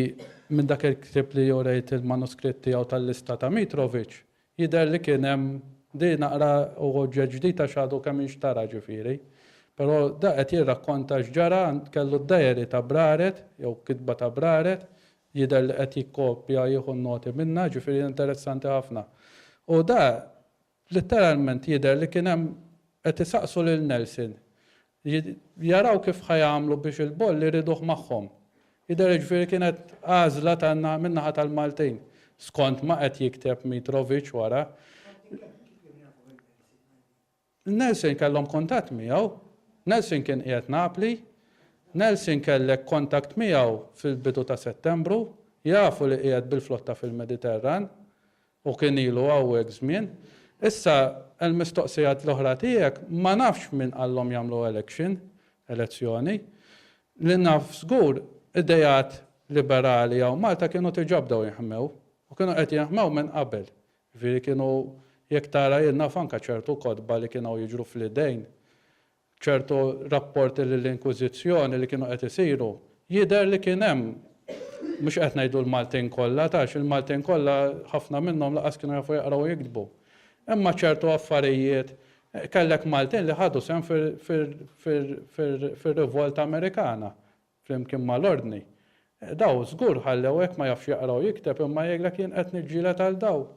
minn dak il-ktieb li urejt il-manuskritt tiegħu tal-lista ta' Mitrovic, jidher li kien hemm, di naqra hu oġġett ġdid għax għadu kemm inxtara ġifieri, però da qed jirrakkonta x'ġara, kellu d-diary ta' Braret, jew kitba ta' Braret, jidher li qed jikkopja, jieħu n-noti minnha, ġifieri interessanti ħafna. U da Litteralment jidher li kien hemm qed isaqsu lil Nelson jaraw kif ħa jagħmlu biex il-boll iriduh magħhom. Jidher jiġifieri kienet għażla min-naħa tal-Maltin, skont ma qed jikteb Mitrovic wara. Nelson kellhom kuntatt miegħu, Nelson kien qiegħed Napli, Nelson kellek kontakt miegħu fil-bidu ta' Settembru, jafu li qiegħed bil-flotta fil-Mediterran, U kien ilu hawnhekk żmien. Issa għall-mistoqsija l-oħra tiegħek, ma nafx min qallhom jagħmlu election, elezzjoni. Li naf żgur, ideat liberali hawn Malta kienu diġà bdew jinħmew. U kienu qed jinħmew minn qabel. Jiġifieri kienu, jekk tara jien naf anke ċertu kotba li kienw jiġru fl-idejn ċertu rapporti lill-Inkwiżizzjoni li kienu qed isiru, jidher li kien hemm, mhux qed ngħidu l-Maltin kollha, għax il-Maltin kollha ħafna minnhom lanqas kienu jafu jaqraw u jiktbu, imma ċertu affarijiet, kellek Maltin li ħadu sehem fir-Rivolta Amerikana, flimkien mal-ordni. Dawn żgur ħallew hekk ma jafx jaqra u jikteb imma jgħidlek jien qed niġġieled għal dawn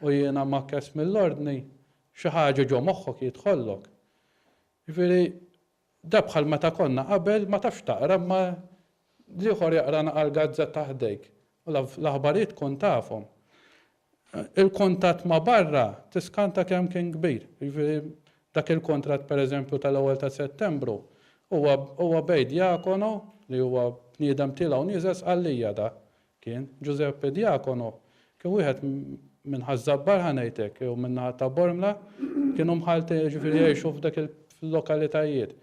u jiena mgħakkes mill-ordni. Xi ħaġa ġo moħħok jidħollok. Jiġifieri da bħal meta konna qabel ma tafx taqra imma l-ieħor jaqra nagħal gazzetta ħdejk u l-aħbarijiet tkun tafhom. il-kuntatt ma' barra tiskanta kemm kien kbir. Jiġifieri dak il-kuntratt pereżempju tal-ewwel ta' Settembru huwa huwa bejn Diacono li huwa bniedem tiela' u nieżel Sqallija dak kien. Ġużeppi Diacono kien wieħed minn Ħaż-Żabbar ħa ngħid hekk jew min-naħa ta' Bormla kienu mħalltin jiġifieri jgħixu f'dak il-lokalitajiet.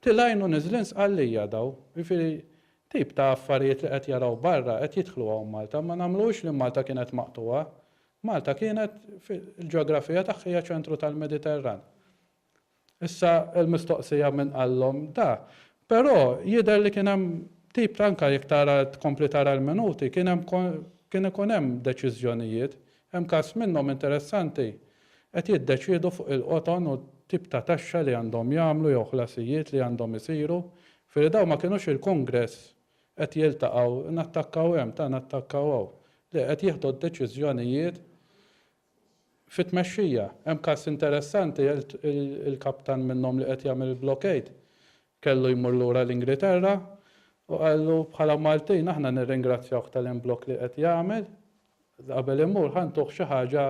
Tilgħin u niżlin Sqallija dawn. Jiġifieri Tip ta' affarijiet li qed jaraw barra qed jidħlu hawn Malta. Ma nagħmluhux li Malta kienet maqtugħa. Malta kienet fil-ġeografija tagħha hija ċentru tal-Mediterran. Issa l-mistoqsija min qallhom da. Però jidher li kien hemm tip ta' anke jekk tara tkompli tara l-minuti kien hemm kien ikun hemm deċiżjonijiet. Hemm każ minnhom interessanti. Qed jiddeċiedu fuq il-qoton u t-tip ta' taxxa li għandhom jagħmlu jew ħlasijiet li għandhom isiru Firri dawn ma kienux il-Kongress qed jiltaqgħu nattakkaw hemm ta' nattakkaw hawn. Le, qed jieħdu d-deċiżjonijiet fit-tmexxija. Hemm każ interessanti il-kaptan minnhom li qed jagħmel il-blockade kellu jmur lura l-Ingriterra u qallu bħala Maltin aħna nirringrazzjawh tal-imblokk li qed jagħmel qabel imur ħa ntuh xi ħaġa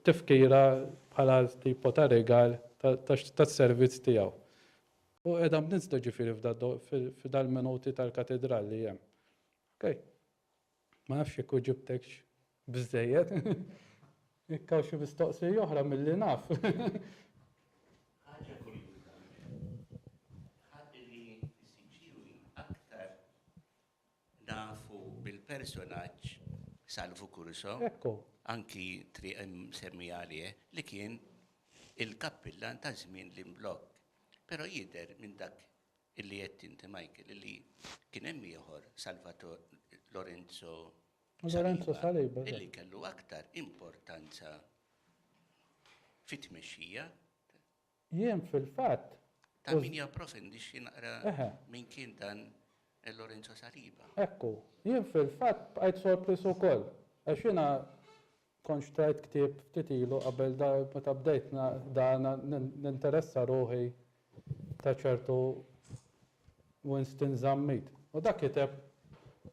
tifkira bħala tipo ta' rigal tas-servizz tiegħu. U qiegħda mniżda ġifieri f'dal-minuti tal-katidral li hemm. Okej. Ma nafx jekk uġibtekx biżżejjed. Jekk hawn xi mistoqsija oħra milli naf. Ħaġa kurjuża, ħadd irid isib xi ħin aktar Nafu bil-personaġġ Salvu Curso, anki triq imsemmija għalih, li kien il-kappillan ta' żmien l-imblokk. Però jidher minn dak li għedt inti Michael li kien hemm ieħor Salvator Lorenzo Saliba li kellu aktar importanza fit-tmexxija. Jien fil-fatt. Ta' min japprofindixxi naqra min kien dan Lorenzo Saliba. Ekku, jien fil-fatt bqajt sorpriż ukoll għax jiena kont xtrajt ktieb ftit ilu qabel meta bdejt dan ninteressa ruħi ta' ċertu Winston Zammit. U dak kiteb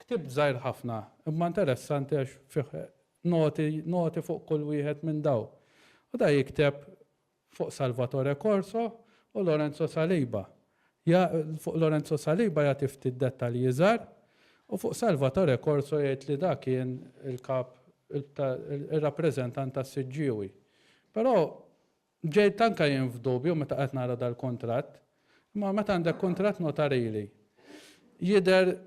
ktieb żgħir ħafna imma interessanti għax fih noti fuq kull wieħed minn dawn. U dan jikteb fuq Salvatore Corso u Lorenzo Saliba, ja, fuq Lorenzo Saliba jagħti ftit dettalji iżgħar u fuq Salvatore Corso jgħid li da kien il-kap ta' ir-rappreżentant tas-Siġġiewi. Però ġejt anke jien f'dubju meta qed nara dal-kuntratt Imma meta għandek kuntratt notarili, jidher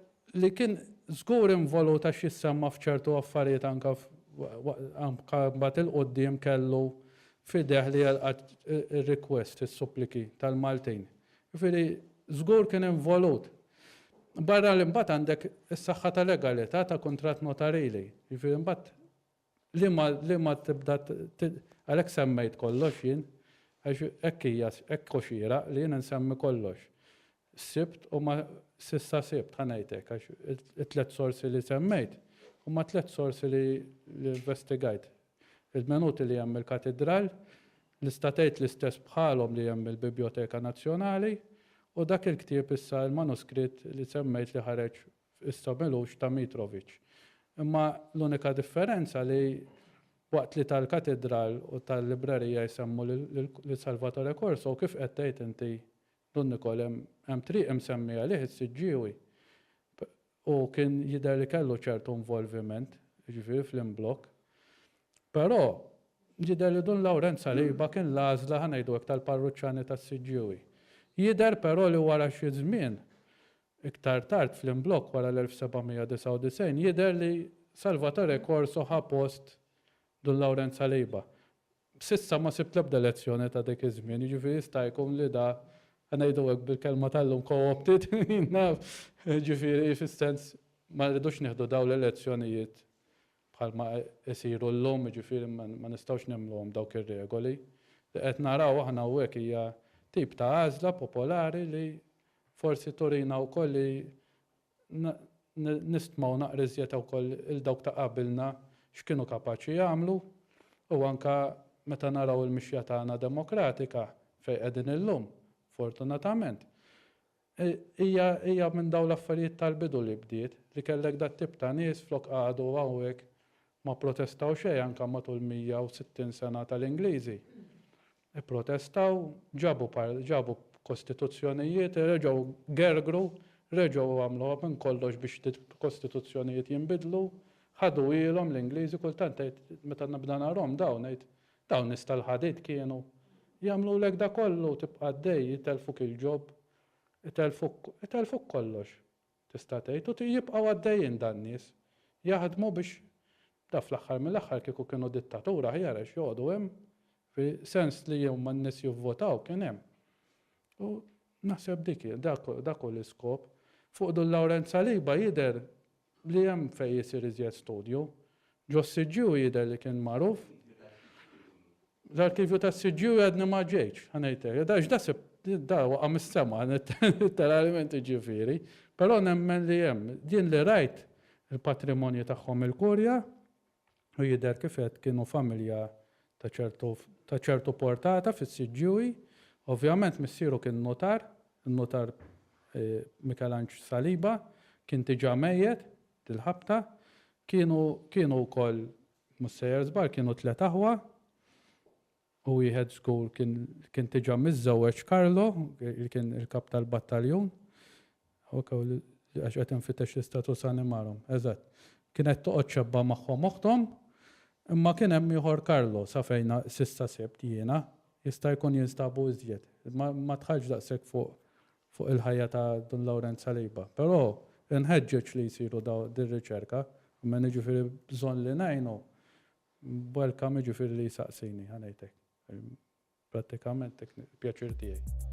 li kien żgur involut għax jissemma f'ċertu affarijiet anke anke mbagħad 'il quddiem kellu f'idejh li jilqa' r-request, is-suppliki tal-Maltin. Jiġifieri żgur kien involut. Barra li mbagħad għandek is-saħħa ta' legalità ta' kuntratt notarili. Jiġifieri mbagħad Liema liema tibda għalhekk semmejt kollox jien għax hekk hija hekk hu xieraq li jien insemmi kollox. Sibt u ma s'issa sibt ħa ngħid hekk għax it-tliet sorsi li semmejt huma tliet sorsi li investigajt. Il-menuti li hemm mill-Katidral nista' tgħid l-istess bħalhom li hemm mill-Bibjoteka Nazzjonali u dak il-ktieb issa l-manuskritt li semmejt li ħareġ f'Qisra Milux ta' Mitrovic. Imma l-unika differenza li waqt li tal-Katidral u tal-Librerija jsemmu lil Salvatore Corso u kif qed tgħid inti Dun Nikol hemm triq imsemmija għalih is-Siġġiewi u kien jidher li kellu ċertu involviment, jiġifieri fl-imblokk. Però jidher li Dun Lawrenz Saliba kien l-għażla ħa ngħidu hekk tal-parruċċani tas-Siġġiewi. Jidher però li wara xi żmien Iktar tard fl-imblokk wara l-1799 jidher li Salvatore Corso ħa post Dun Lawrenz Saliba. S'issa ma sibt l-ebda lezzjoni ta' dik iż-żmien, jiġifieri jista' jkun li da, ħa ngħidu hekk bil-kelma tal-lum co-opted, jien naf, jiġifieri fis-sens ma rridux nieħdu dawn l-elezzjonijiet bħalma isiru llum, jiġifieri ma nistgħux nemmluhom dawk ir-regoli. Li qed naraw aħna hawnhekk hija tip ta' għażla popolari li forsi turina wkoll li nistmgħu naqra iżjed wkoll 'il dawk ta' qabilna x'kienu kapaċi jagħmlu u anke meta naraw il-mixja tagħna demokratika fejn qegħdin illum, fortunatament. Hija hija minn dawn l-affarijiet tal-bidu li bdiet, li kellek dat-tip ta' nies flok qagħadu hawn hekk ma protestaw xejn anke matul 160 sena tal-Ingliżi. Ipprotestaw, ġabu ġabu kostituzzjonijiet, reġgħu gergru, reġgħu għamluha minn kollox biex kostituzzjonijiet jinbidlu, ħaduhielhom l-Ingliżi, kultant tgħid meta nibda narahom dawn ngħid Dawn nies tal-ħadid kienu jagħmlulek da kollu u tibqa' għaddej, jitellfuk il-job, itellfuk, itellfuk kollox, tista' tgħid, u jibqgħu għaddejjin dan-nies, jaħdmu biex, da fl-aħħar mill-aħħar kieku kienu dittatur aħjar għax joqogħdu hemm, fi sens li huma n-nies jivvotaw kien hemm. U naħseb dik hi, dak dak hu l-iskop. Fuq Dun Lawrenz Saliba jidher Li hemm fejn jisir iżjed studju. Ġos-CGU jidher li kien magħruf. L-arkivju tas-CGU għadni ma ġejtx, ħa ngħidlek. Għax da sibt, da waqa' mis-sema, letteralment jiġifieri. Però nemmen li hemm. Jien li rajt il-patrimonju tagħhom il-Kurja, u jidher kif għedt kienu familja ta' ċertu ta' ċertu portata fis-siġġiewi. Ovvjament missieru kien nutar, in-nutar Mikelanġ Saliba, kien diġà mejjet dil-ħabta. Kienu kienu wkoll, mhux sejjer żball, kienu tliet aħwa. u wieħed żgur kien kien diġà miżżewweġ Carlo, li kien il-kap tal-battaljun, ok, għax qed infittex l-istatus animarum, eżatt, kienet toqgħod xebba magħhom oħthom, imma kien hemm ieħor Carlo, sa fejn s'issa sibt jiena, jista' jkun jinstabu iżjed, imma ma dħaltx daqshekk fuq fuq il-ħajja ta' Dun Lawrenz Saliba. Però inħeġġeġ li jsiru daw dir-riċerka, almenu jiġifieri bżonn li ngħinu Welcome jiġifieri li jsaqsini, ħa ngħid hekk. Prattikament dak il-pjaċir tiegħi.